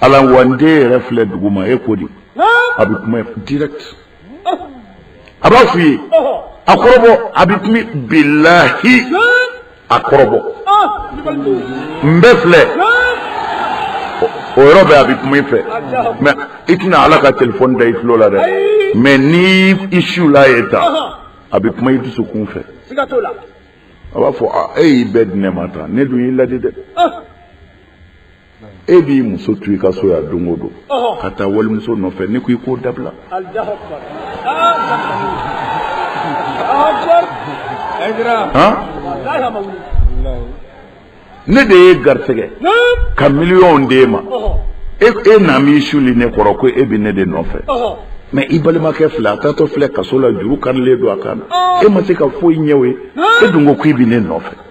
ala wa n ten yɛrɛ filɛ dugu ma e ko di a bɛ kuma direct a b'a f'i ye a kɔrɔbɔ a bɛ kuma bilahi a kɔrɔbɔ n bɛ filɛ o yɔrɔ bɛɛ a bɛ kuma i fɛ mɛ i tɛna ala ka telefɔni da i tulo la dɛ mɛ ni i siw la ye ta a bɛ kuma i dusukun fɛ a b'a fɔ e y'i bɛɛ di ne ma tan ne dun y'i laadi dɛ e b'i muso to i ka so yan don o don ka taa walimuso nɔfɛ ne ko i k'o dabila ne de ye garisɛgɛ ka miliyɔnw d'e ma e e nan'i suuli ne kɔrɔ ko e bɛ ne de nɔfɛ mɛ i balimakɛ filɛ a taatɔ filɛ kaso la juru karilen don a kan na e ma se ka foyi ɲɛ o ye e dun ko k'i bɛ ne nɔfɛ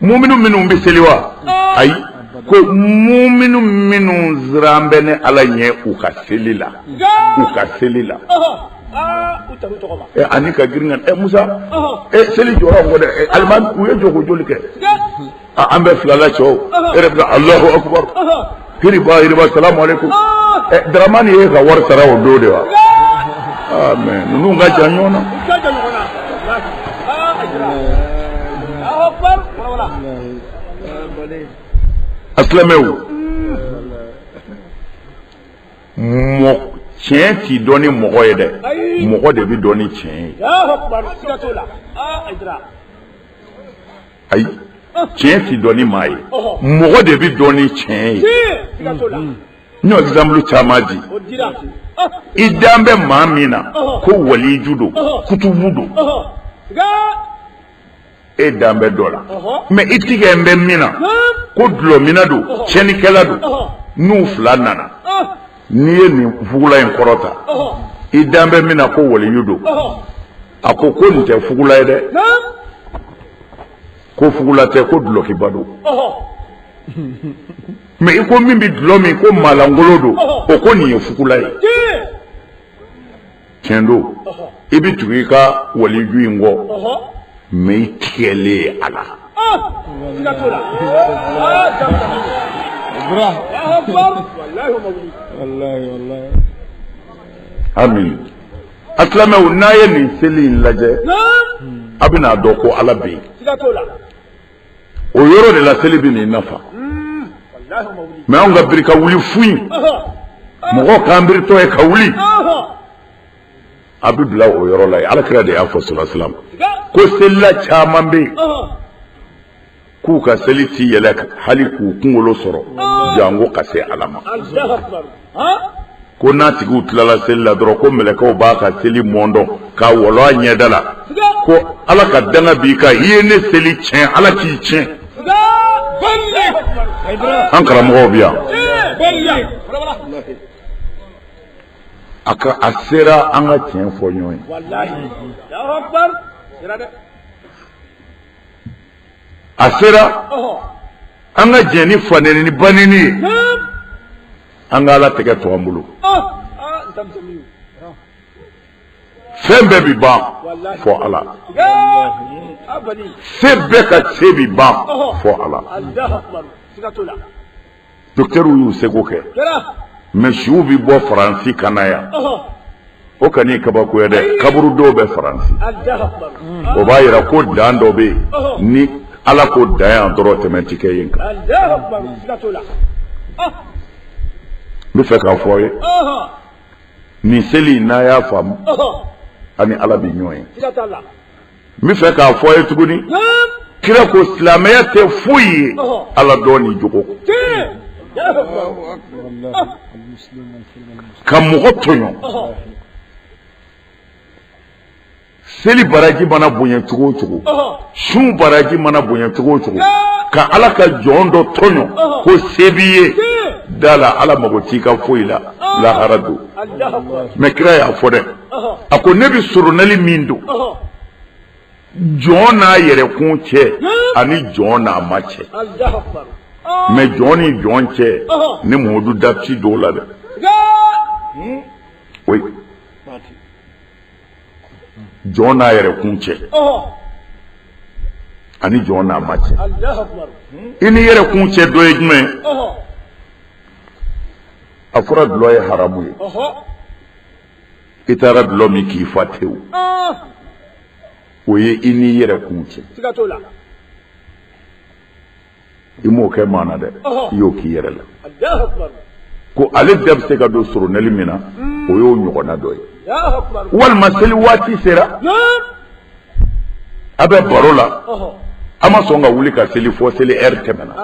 muminu minnu bɛ seli wa ayi ko muminu minnu siran bɛ ne ala ɲɛ u ka seli la u ka seli la ani ka girin ka ɛ musa ɛ seli jɔyɔrɔ kɔ dɛ alimami u ye jɔko joli kɛ an bɛ fila la cɛw e yɛrɛ bɛ alahu akubaru hiriba hiriba salamu aleykum ɛ daramani y'e ka wari sara o don de wa aa mɛ ninnu ka jan ɲɔgɔn na. a silamɛw mɔ tiɲɛ tɛ dɔn ni mɔgɔ ye dɛ mɔgɔ de bɛ dɔn ni tiɲɛ ye. ayi tiɲɛ tɛ dɔn ni maa ye mɔgɔ de bɛ dɔn ni tiɲɛ ye n y'o exemple caman di i dan bɛ maa min na ko waliju don kutubu don e dan bɛ dɔ la mɛ i tigɛlen bɛ min na ko dulɔminna don tiɲɛnikɛla don n'u fila nana n'i ye nin fugula in kɔrɔta i dan bɛ min na ko waliju don a ko ko nin tɛ fugula ye dɛ ko fugula tɛ ko dulɔkiba don mɛ i ko min bɛ dulɔ min ko maalankolon don o ko nin ye fugula ye tiɲɛ don i bɛ tugu i ka waliju in kɔ mɛ i tigɛlen ye a la hami a silamɛw n'a ye nin seli in lajɛ a bɛn'a dɔn ko ala bɛ yen o yɔrɔ de la seli bɛn'i nafa mɛ anw ka biri ka wuli fu in mɔgɔ k'an biritɔ ye ka wuli a bɛ bila o yɔrɔ la yen ala kira de y'a fɔ salasalam ko selila caman bɛ yen k'u ka seli ti yɛlɛn hali k'u kunkolo sɔrɔ janko ka se ala ma ko n'a tigiw tilala seli la dɔrɔn ko mɛlɛkɛw b'a ka seli mɔndɔn k'a walon a ɲɛda la ko ala ka danga b'i kan i ye ne seli tiɲɛ ala k'i tiɲɛ an karamɔgɔw bi yan a ka a sera an ka tiɲɛ fɔ ɲɔgɔn ye a sera an ka jɛ ni faneni ni baneni ye an ka ala tɛgɛ to an bolo fɛn bɛɛ bi ban fɔ ala se bɛɛ ka se bi ban fɔ ala Docteurw y'u seko kɛ mɛ suw bɛ bɔ faransi ka na yan o kan'i kabakoya dɛ kaburu dɔw bɛ faransi o b'a jira ko dan dɔ bɛ yen ni ala ko dan yan dɔrɔn tɛmɛn tɛ kɛ yen kan n b'a fɛ k'a fɔ a ye nin seli n'a y'a faamu a ni ala bɛ ɲɔgɔn ye n b'a fɛ k'a fɔ a ye tuguni kira ko silamɛya tɛ foyi ye ala dɔn ni jogo kɔ ka mɔgɔ tɔɲɔ seli baraji mana bonya cogo o cogo sun baraji mana bonya cogo o cogo ka ala ka jɔn dɔ tɔɲɔ ko se b'i ye da a la ala mago t'i ka foyi la lahara don mɛ kira y'a fɔ dɛ a ko ne bɛ soronali min don jɔn n'a yɛrɛkun cɛ ani jɔn n'a ma cɛ mɛ jɔn ni jɔn cɛ ne muhamadu da tɛ don o la dɛ jɔn n'a yɛrɛkun cɛ ani jɔn n'a ma cɛ i n'i yɛrɛkun cɛ dɔ ye jumɛn a fɔra dulɔ ye haramu ye i taara dulɔ min k'i fa tewu o ye i n'i yɛrɛ kun cɛ i m'o kɛ maa na dɛ i y'o k'i yɛrɛ la ko ale da bɛ se ka don soronali min na o y'o ɲɔgɔnna dɔ ye walima seli waati sera a bɛ baro la a ma sɔn ka wuli ka seli fɔ seli ɛri tɛmɛna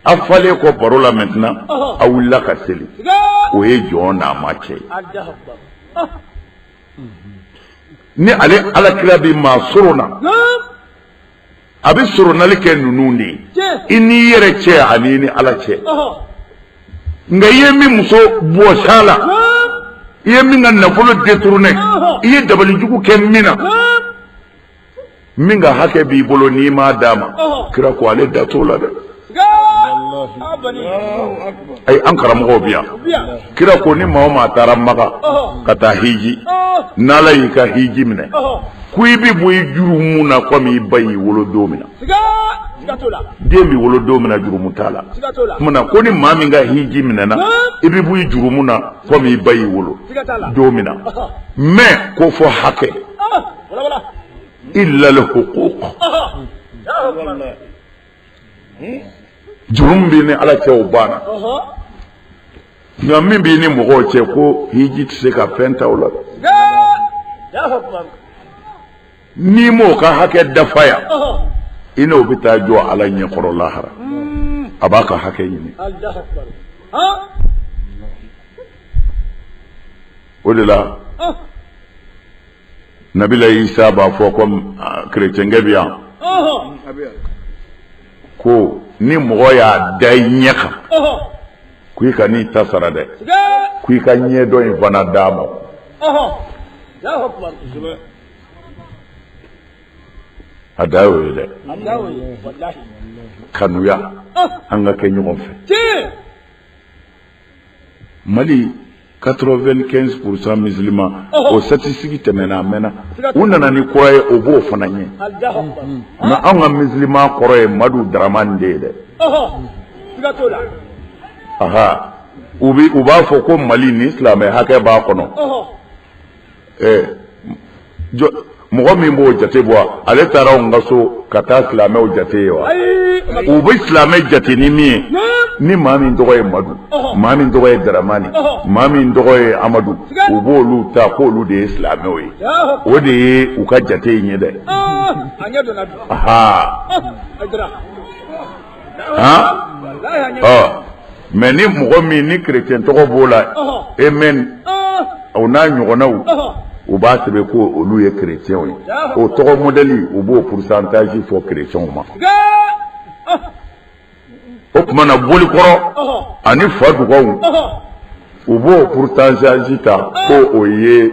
A falen kɔ baro la maintenant a wulila ka seli o ye jɔn n'a ma cɛ ye ni ale ala kira bɛ maa sorona a bɛ soronali kɛ ninnu de ye i n'i yɛrɛ cɛ ani i ni ala cɛ nka i ye min muso bɔs'a la i ye min ka nafolo détourné i ye dabalijugu kɛ min na min ka hakɛ b'i bolo n'i m'a d'a ma kira ko ale da t'o la dɛ ayi an karamɔgɔw bɛ yan kira ko ni maa o maa taara maka ka taa hiji n'ala y'i ka hiji minɛ ko i bɛ bɔ i jurumu na komi i ba y'i wolo don min na den bɛ wolo don min na jurumu t'a la tuma na ko ni maa min ka hiji minɛna i bɛ bɔ i jurumu na komi i ba y'i wolo don min na mɛ ko fɔ hakɛ illa lhukuk jurumu min b'i ni ala cɛ o banna nka min b'i ni mɔgɔw cɛ ko hiji tɛ se ka fɛn ta o la n'i m'o ka hakɛ dafa yan i n'o bɛ taa jɔ ala ɲɛkɔrɔ lahara a b'a ka hakɛ ɲini o de la nabilayi isa b'a fɔ komi kerecɛnkɛ bɛ yan ko ni mɔgɔ y'a da i ɲɛ kan ko i kan'i ta sara dɛ ko i ka ɲɛ dɔ in fana d'a ma a da y'o ye dɛ kanuya an ka kɛ ɲɔgɔn fɛ mali 95 pourcent musulman don statistique tɛmɛna a mɛnna u nana ni kura ye o b'o fana ɲɛ nka anw ka musulman kɔrɔ ye madu daramani de ye dɛ aha u b'a fɔ ko mali nin silamɛ hakɛ b'a kɔnɔ ɛɛ jɔ mɔgɔ min b'o jate bɔ ale taara anw ka so ka taa silamɛw jate ye wa u bɛ silamɛ jate ni min ye ni maa min tɔgɔ ye madu maa min tɔgɔ ye daramani maa min tɔgɔ ye amadu u b'olu ta k'olu de ye silamɛw ye o de ye u ka jate in ye dɛ aa mais ni mɔgɔ min ni kirecɛn tɔgɔ b'o la aimé o n'a ɲɔgɔnnaw u b'a sɛbɛn ko olu ye kirecɛnw ye o tɔgɔ modɛli u b'o pourcentage fɔ kirecɛnw ma o tuma na bolikɔrɔ ani fadugaw u b'o pourcentage ta ko o ye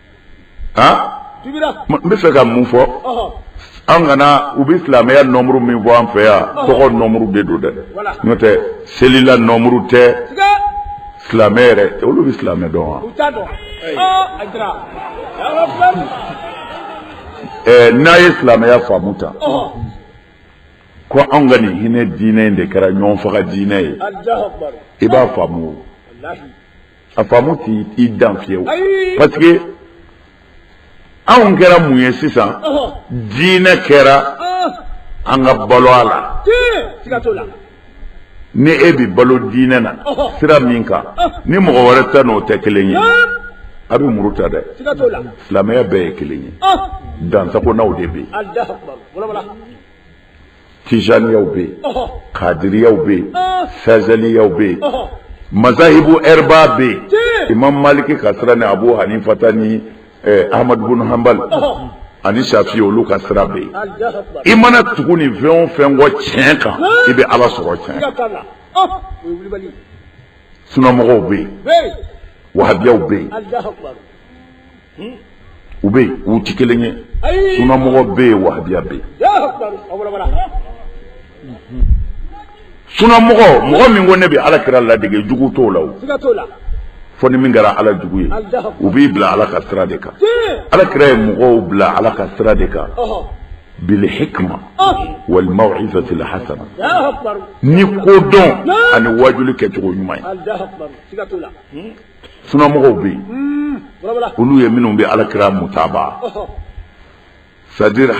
n bɛ fɛ ka mun fɔ an kana u bɛ silamɛya nɔmuru min fɔ an fɛ yan tɔgɔ nɔmuru de don dɛ n'o tɛ selila nɔmuru tɛ silamɛ yɛrɛ olu bɛ silamɛ dɔn wa n'a ye silamɛya faamu ta ko anw ka nin hinɛ diinɛ in de kɛra ɲɔgɔn faga diinɛ ye i b'a faamu a faamu t'i i dan fiyewu parce que anw kɛra mun ye sisan diinɛ kɛra an ka balo a la ni e bi balo diinɛ na sira min kan ni mɔgɔ wɛrɛ ta n'o tɛ kelen ye a bɛ muru ta dɛ silamɛya bɛɛ ye kelen ye dansagonaw de bɛ yen tijaniyaw bɛ yen kadiriyaw bɛ yen sazaliyaw bɛ yen mazahibu arba bɛ yen imam maliki ka sira ni abu hanifa ta ni eh, ahmadu bin hanbal ani shafi olu ka sira bɛ yen i mana tugu nin fɛn o fɛn kɔ tiɲɛ kan i bɛ ala sɔrɔ tiɲɛ sunamɔgɔw bɛ yen wahabiyaw bɛ yen u bɛ yen u tɛ kelen ye sunamɔgɔ bɛ yen wahabiya bɛ yen sunamɔgɔ mɔgɔ min ko ne bɛ ala kira ladege jugu t'o la o fɔ ni min kɛra ala jugu ye u b'i bila ala ka sira de kan ala kira ye mɔgɔw bila ala ka sira de kan bilihikima walimawizatil hasana ni kodɔn ani wajuli kɛcogo ɲuman ye sunamɔgɔw bɛ yen olu ye minnu bɛ ala kira mutaba sajiri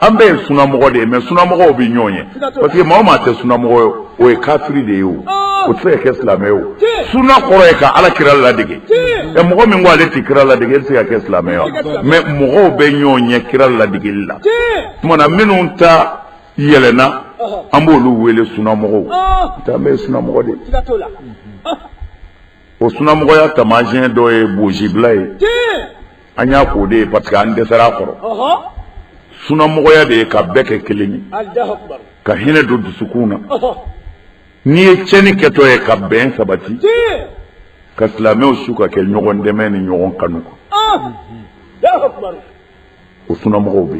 an bɛɛ ye sunamɔgɔ de ye mɛ sunamɔgɔw bɛ ɲɔgɔn ɲɛ parce que maa maa tɛ sunamɔgɔ ye o ye kafiri de ye o o tɛ se ka kɛ silamɛ ye o suna kɔrɔ ye ka ala kira ladege ɛ mɔgɔ min ko ale tɛ kira ladege e tɛ se ka kɛ silamɛ ye mɛ mɔgɔw bɛ ɲɔgɔn ɲɛ kira ladegeli la tuma na minnu ta yɛlɛna an b'olu wele sunamɔgɔw an bɛ sunamɔgɔ de o sunamɔgɔya taamasiyɛn dɔ ye bonsibila ye an y'a k'o de ye parce que an dɛsɛra a kɔrɔ sunamɔgɔya de ye ka bɛɛ kɛ kelen ye ka hinɛ don dusukun na n'i ye tiɲɛni kɛtɔ ye ka bɛn sabati ka silamɛw su ka kɛ ɲɔgɔn dɛmɛ ni ɲɔgɔn kanu kan o sunamɔgɔw bɛ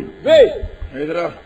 yen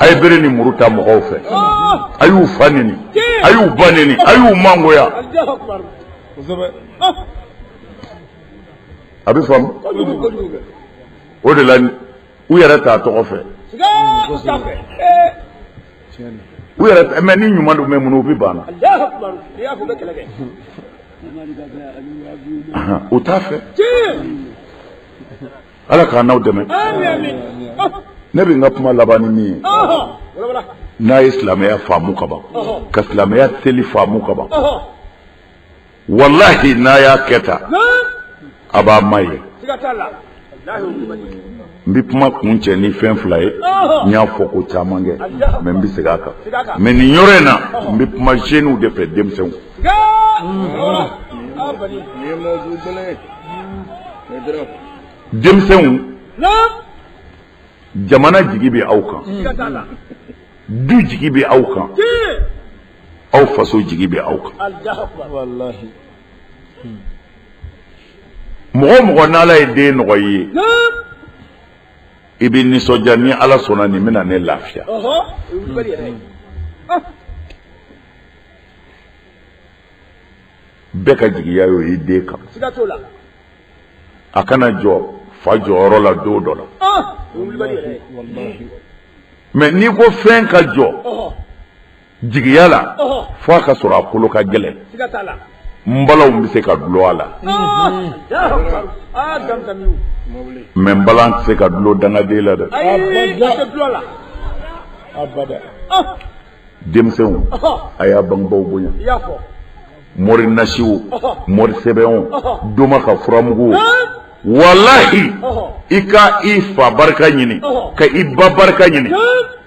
a ye bere ni muru ta mɔgɔw fɛ a y'u fa neni a y'u ba neni a y'u mangoya a bɛ faamu o de la u yɛrɛ t'a tɔgɔ fɛ u yɛrɛ mɛ ni ɲuman don mɛ minnu u bɛ banna u t'a fɛ ala k'an n'aw dɛmɛ ne bɛ n ka kuma laban ni min ye n'a ye silamɛya faamu kaban ka silamɛya seli faamu kaban wallahi n'a y'a kɛ tan a b'a ma ye n bɛ kuma kuncɛ ni fɛn fila ye n y'a fɔ ko caman kɛ mɛ n bɛ segin a kan mɛ nin yɔrɔ in na n bɛ kuma zeniw de fɛ denmisɛnw denmisɛnw jamana jigi bɛ aw kan du jigi bɛ aw kan aw faso jigi bɛ aw kan mɔgɔ o mɔgɔ n' ala ye den nɔgɔya i bɛ nisɔndiya ni ala sɔnna nin bɛna ne lafiya bɛɛ ka jigiya y'o ye den kan a ka na jɔ fa jɔyɔrɔ la don dɔ la mɛ n'i ko fɛn ka jɔ jigiya la fo a ka sɔrɔ a kolo ka gɛlɛn n balaw bɛ se ka dulon a la mɛ n bala tɛ se ka dulon dangaden la dɛ denmisɛnw a y'a bangebaw bonya mori nasi o mori sɛbɛn o doma ka furamugu o walahi i ka i fa barika ɲini ka i ba barika ɲini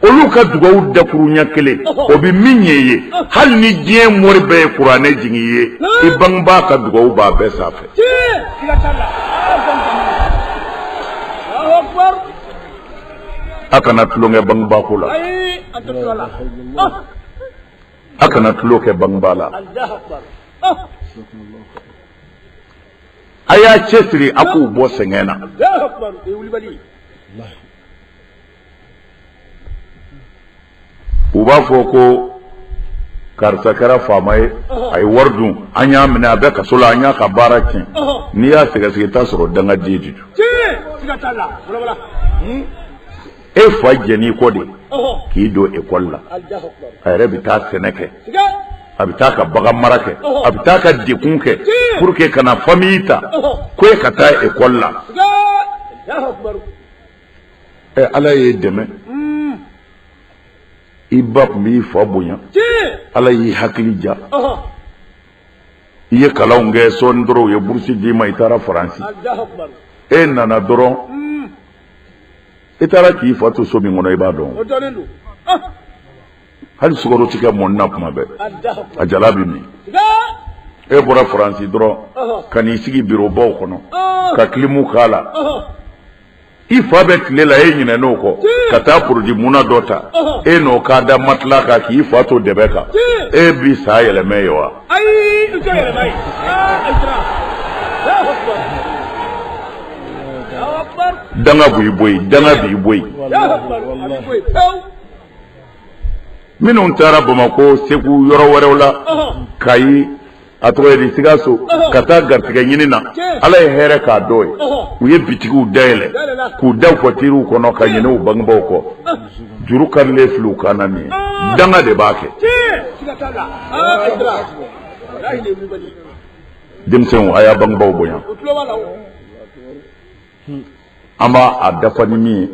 olu ka dugaw dakuruɲɛ kelen o bɛ min ɲɛ i ye hali ni diɲɛ mori bɛɛ ye kuranɛ jigin i ye i bangebaa ka dugaw b'a bɛɛ sanfɛ a kana tulon kɛ bangebaako la a kana tulon kɛ bangebaa la a y'a cɛsiri a k'u bɔ sɛgɛn na u b'a fɔ ko karisa kɛra faama ye a ye wari dun an y'a minɛ a bɛ kaso la an y'a ka baara tiɲɛ n'i y'a sɛgɛsɛgɛ i t'a sɔrɔ dangaden de don e fa jɛnn'i kɔ de k'i don ekɔli la a yɛrɛ bɛ taa sɛnɛ kɛ a bɛ taa ka baganmara kɛ a bɛ taa ka dekun kɛ pour que kana fami ta ko e ka taa ekɔli la ɛ eh, ala y'i dɛmɛ hmm. i ba tun b'i fa bonya ala y'i hakili diya i ye kalanw kɛ sɔɔni dɔrɔn u ye burusi d'i ma i taara faransi e nana dɔrɔn i taara k'i fa to so min kɔnɔ i b'a dɔn hali sukaro ti kɛ mɔni na kuma bɛɛ a jalan bɛ min e bɔra faransi dɔrɔn ka n'i sigi birobaw kɔnɔ ka kilimu k'a la i fa bɛ tile la e ɲinɛn'o kɔ ka taa porodi munna dɔ ta e n'o k'a da matila kan k'i fa to dɛbɛ kan e bi sa yɛlɛmɛ ye wa danga b'i bɔ yen danga b'i bɔ yen minnu taara bamakɔ segu yɔrɔ wɛrɛw la kayi a tɔgɔ di sikaso ka taa garisɛgɛ ɲini na ala ye hɛrɛ k'a dɔ ye u ye bitigiw dayɛlɛ k'u da watiriw kɔnɔ ka ɲinɛ u bangebaw kɔ juru karilen fil'u kan na nin ye danga de b'a kɛ denmisɛnw a y'a bangebaw bonya an b'a dafa ni min ye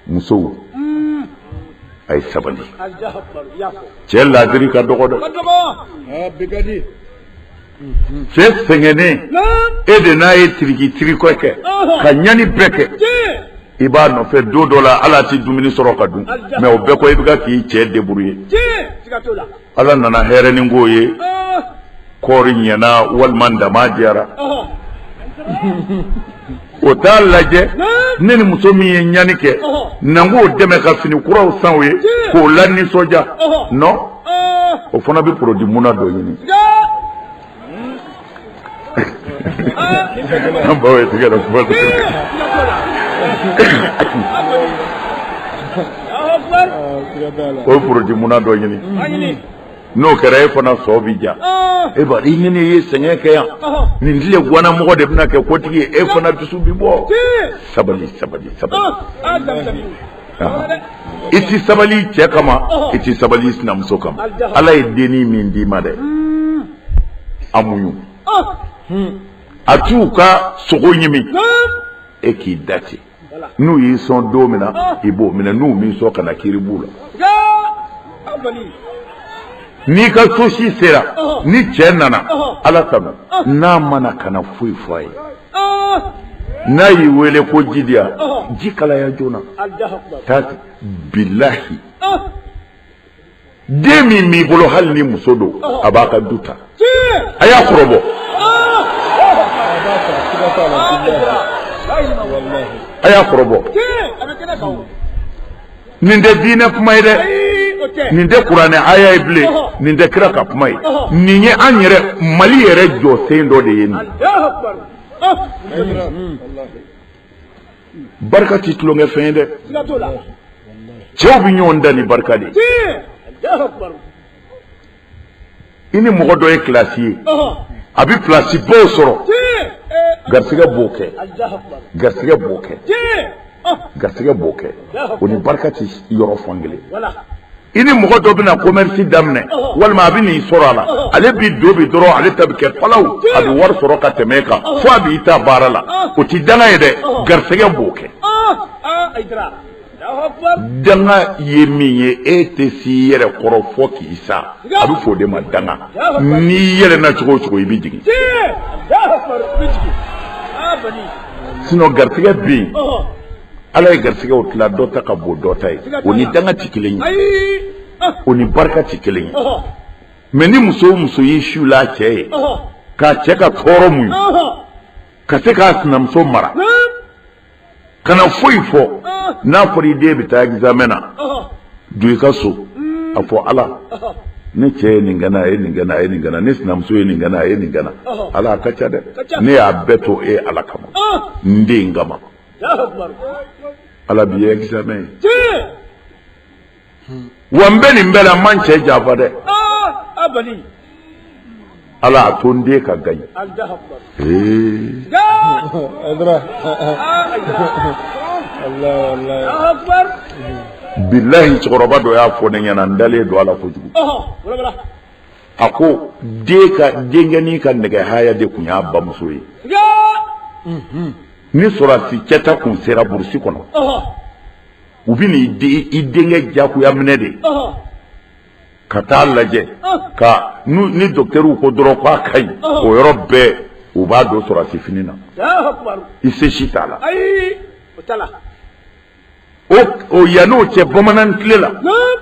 musow a ye sabali cɛ laadiri ka dɔgɔ dɛ cɛ sɛgɛnnen e de n'a ye tiriki tirikɔ kɛ ka ɲani bɛɛ kɛ i b'a nɔfɛ don dɔ la ale tɛ dumuni sɔrɔ ka dun mɛ o bɛɛ kɔ i bɛ ka k'i cɛ deburu ye Ala nana hɛrɛnin k'o ye kɔɔri ɲɛna walima daman diyara o t'a lajɛ ne ni muso min ye ɲani kɛ na k'o dɛmɛ ka fini kuraw san o ye k'o lanisɔndiya nɔ o fana bɛ porodi munna dɔ ɲini an baw ye tigɛ la kuma tɛ o porodi munna dɔ ɲini n'o kɛra e fana sɔn bi ja e ba i ɲini ye sɛgɛn kɛ yan nin tile guwanamɔgɔ de bɛna kɛ kotigi ye e fana dusu bi bɔ sabali sabali sabali i tɛ sabali cɛ kama i tɛ sabali sinamuso kama ala ye dennin min d'i ma dɛ a muɲu a t'u ka sogo ɲimi e k'i da ten n'u y'i sɔn don min na i b'o minɛ n'u m'i sɔn kana kiri b'u la n'i ka so si sera ni cɛ nana ala tanu n'a ma na kana foyi fɔ a ye n'a y'i wele ko ji di yan ji kalaya joona taa ten bilahi den min b'i bolo hali ni muso don a b'a ka du ta a y'a kɔrɔbɔ a y'a kɔrɔbɔ nin tɛ diinɛ kuma ye dɛ nin tɛ kuranɛ aya ye bilen nin tɛ kira ka kuma ye nin ye an yɛrɛ mali yɛrɛ jɔsen dɔ de ye nin barika ti tulonkɛfɛn ye dɛ cɛw bɛ ɲɔgɔn dan ni barika de ye i ni mɔgɔ dɔ ye kilasi ye a bɛ pilasibaw sɔrɔ garisɛgɛ b'o kɛ garisɛgɛ b'o kɛ garisɛgɛ b'o kɛ o ni barika tɛ yɔrɔ fan kelen i ni mɔgɔ dɔ bɛna commerce daminɛ walima a bɛ n'i sɔrɔ a la ale b'i don bi dɔrɔn ale ta bɛ kɛ palaw a bɛ wari sɔrɔ ka tɛmɛ e kan fo a b'i ta baara la o tɛ danga ye dɛ garisɛgɛ b'o kɛ danga ye min ye e tɛ s'i yɛrɛ kɔrɔ fo k'i sa a bɛ fɔ o de ma danga n'i yɛlɛnna cogo o cogo i bɛ jigin sinɔn garisɛgɛ bɛ yen ala ye garisɛgɛw tila dɔ ta ka bon dɔ ta ye o ni danga tɛ kelen ye o ni barika tɛ kelen ye mɛ ni muso o muso y'i siw la cɛ ye k'a cɛ ka tɔɔrɔ muɲu ka se k'a sinamuso mara. kana foyi fɔ n'a fɔra i den bɛ taa examen na don i ka so a fɔ ala ne cɛ ye nin kɛ n na a ye nin kɛ n na a ye nin kɛ n na ne sinamuso ye nin kɛ n na a ye nin kɛ n na ala a ka ca dɛ ne y'a bɛɛ to e ala kama n den kama ala b'i ye examen ye wa n bɛ nin bɛɛ la ma n cɛ janfa dɛ ala a to n den ka gaɲe bilayi cɛkɔrɔba dɔ y'a fɔ ne ɲɛna n dalen don a la kojugu a ko den ka denkɛnin ka nɛgɛ haya de tun y'a bamuso ye ni sɔrɔdasi cɛ ta tun sera burusi kɔnɔ u bɛ n'i denkɛ diyagoya minɛ de ka taa lajɛ ka ni dɔkitɛriw ko dɔrɔn k'a ka ɲi o yɔrɔ bɛɛ u b'a don sɔrɔdasi fini na i se si t'a la o yan n'o cɛ bamanan tile la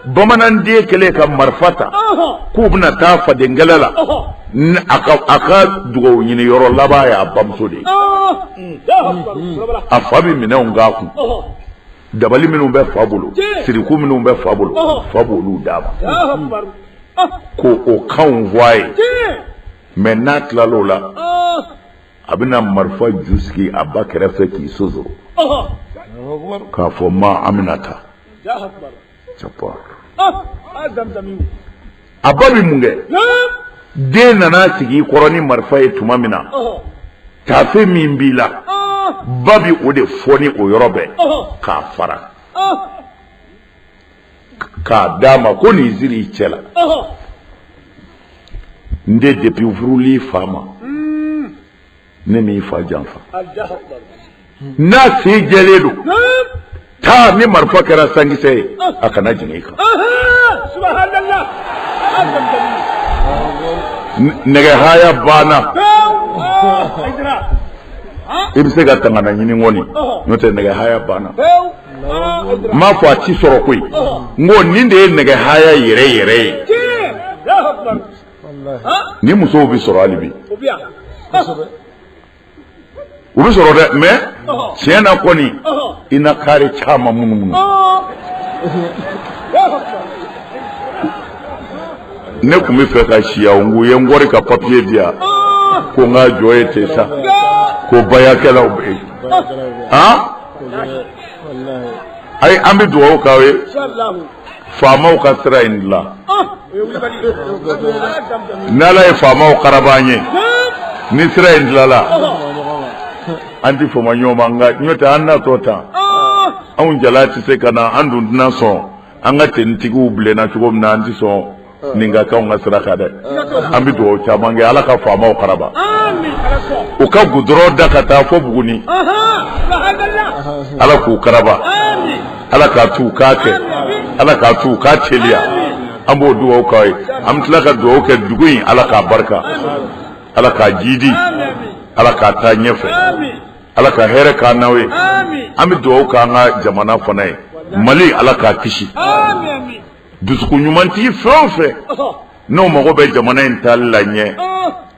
bamanan den kɛlen ka marifa ta k'u bɛna taa fadenkɛlɛ la a ka dugawu ɲini yɔrɔ laban y'a bamuso de ye a fa bɛ minɛnw k'a kun dabali minnu bɛ fa bolo siriku minnu bɛ fa bolo fa b'olu d'a ma ko o kanw fɔ a ye mɛ n'a tilala o la a bɛna marifa ju sigi a ba kɛrɛfɛ k'i sonsoro k'a fɔ ma an bɛna taa a ba bɛ mun kɛ den nana sigi i kɔrɔ ni marifa ye tuma min na taafe min b'i la ba bɛ o de foni o yɔrɔ bɛɛ k'a fara k'a d'a ma ko nin siri i cɛ la n den depuis furul'i fa ma ne m'i fa janfa n'a se jɛlen don taa ni marifa kɛra sankisɛ ye a kana jigin i kan nɛgɛ haya banna i bɛ se ka tangana ɲini kɔni n'o tɛ nɛgɛ haya banna n m'a fɔ a tɛ sɔrɔ koyi n ko nin de ye nɛgɛ haya yɛrɛ yɛrɛ ye nin musow bɛ sɔrɔ hali bi u bɛ sɔrɔ dɛ mɛ tiɲɛ na kɔni i na kari caman minnu minnu ne tun bɛ fɛ ka siya n ko ye n kɔri ka papiye di yan ko n ka jɔ ye ten sa ko baarakɛlaw bɛ yen han ayi an bɛ dugawu k'aw ye faamaw ka sira in dilan ni Ala ye faamaw karaba an ye ni sira in dilala an tɛ fama ɲɔgɔn ma nka n'o tɛ an natɔ tan anw jala tɛ se ka na an dun tɛna sɔn an ka tenitigiw bilenna cogo min na an tɛ sɔn ni ka kɛ anw ka sira kan dɛ an bɛ dugawu caman kɛ ala ka faamaw karaba u ka gudɔrɔn da ka taa fɔ buguni ala k'u karaba ala k'a t'u k'a kɛ ala k'a t'u k'a teliya an b'o dugawu k'aw ye an bɛ tila ka dugawu kɛ dugu in ala k'a barika ala k'a jidi ala k'a taa ɲɛfɛ ala ka hɛrɛ k'an n'aw ye an bɛ dugawu k'an ka jamana fana ye mali ala k'a kisi dusukun ɲumantigi fɛn o fɛn n'o mago bɛ jamana in taali la ɲɛ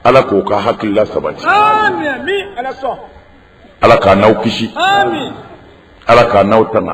ala k'o ka hakilila sabati ala k'an n'aw kisi ala k'an n'aw tanga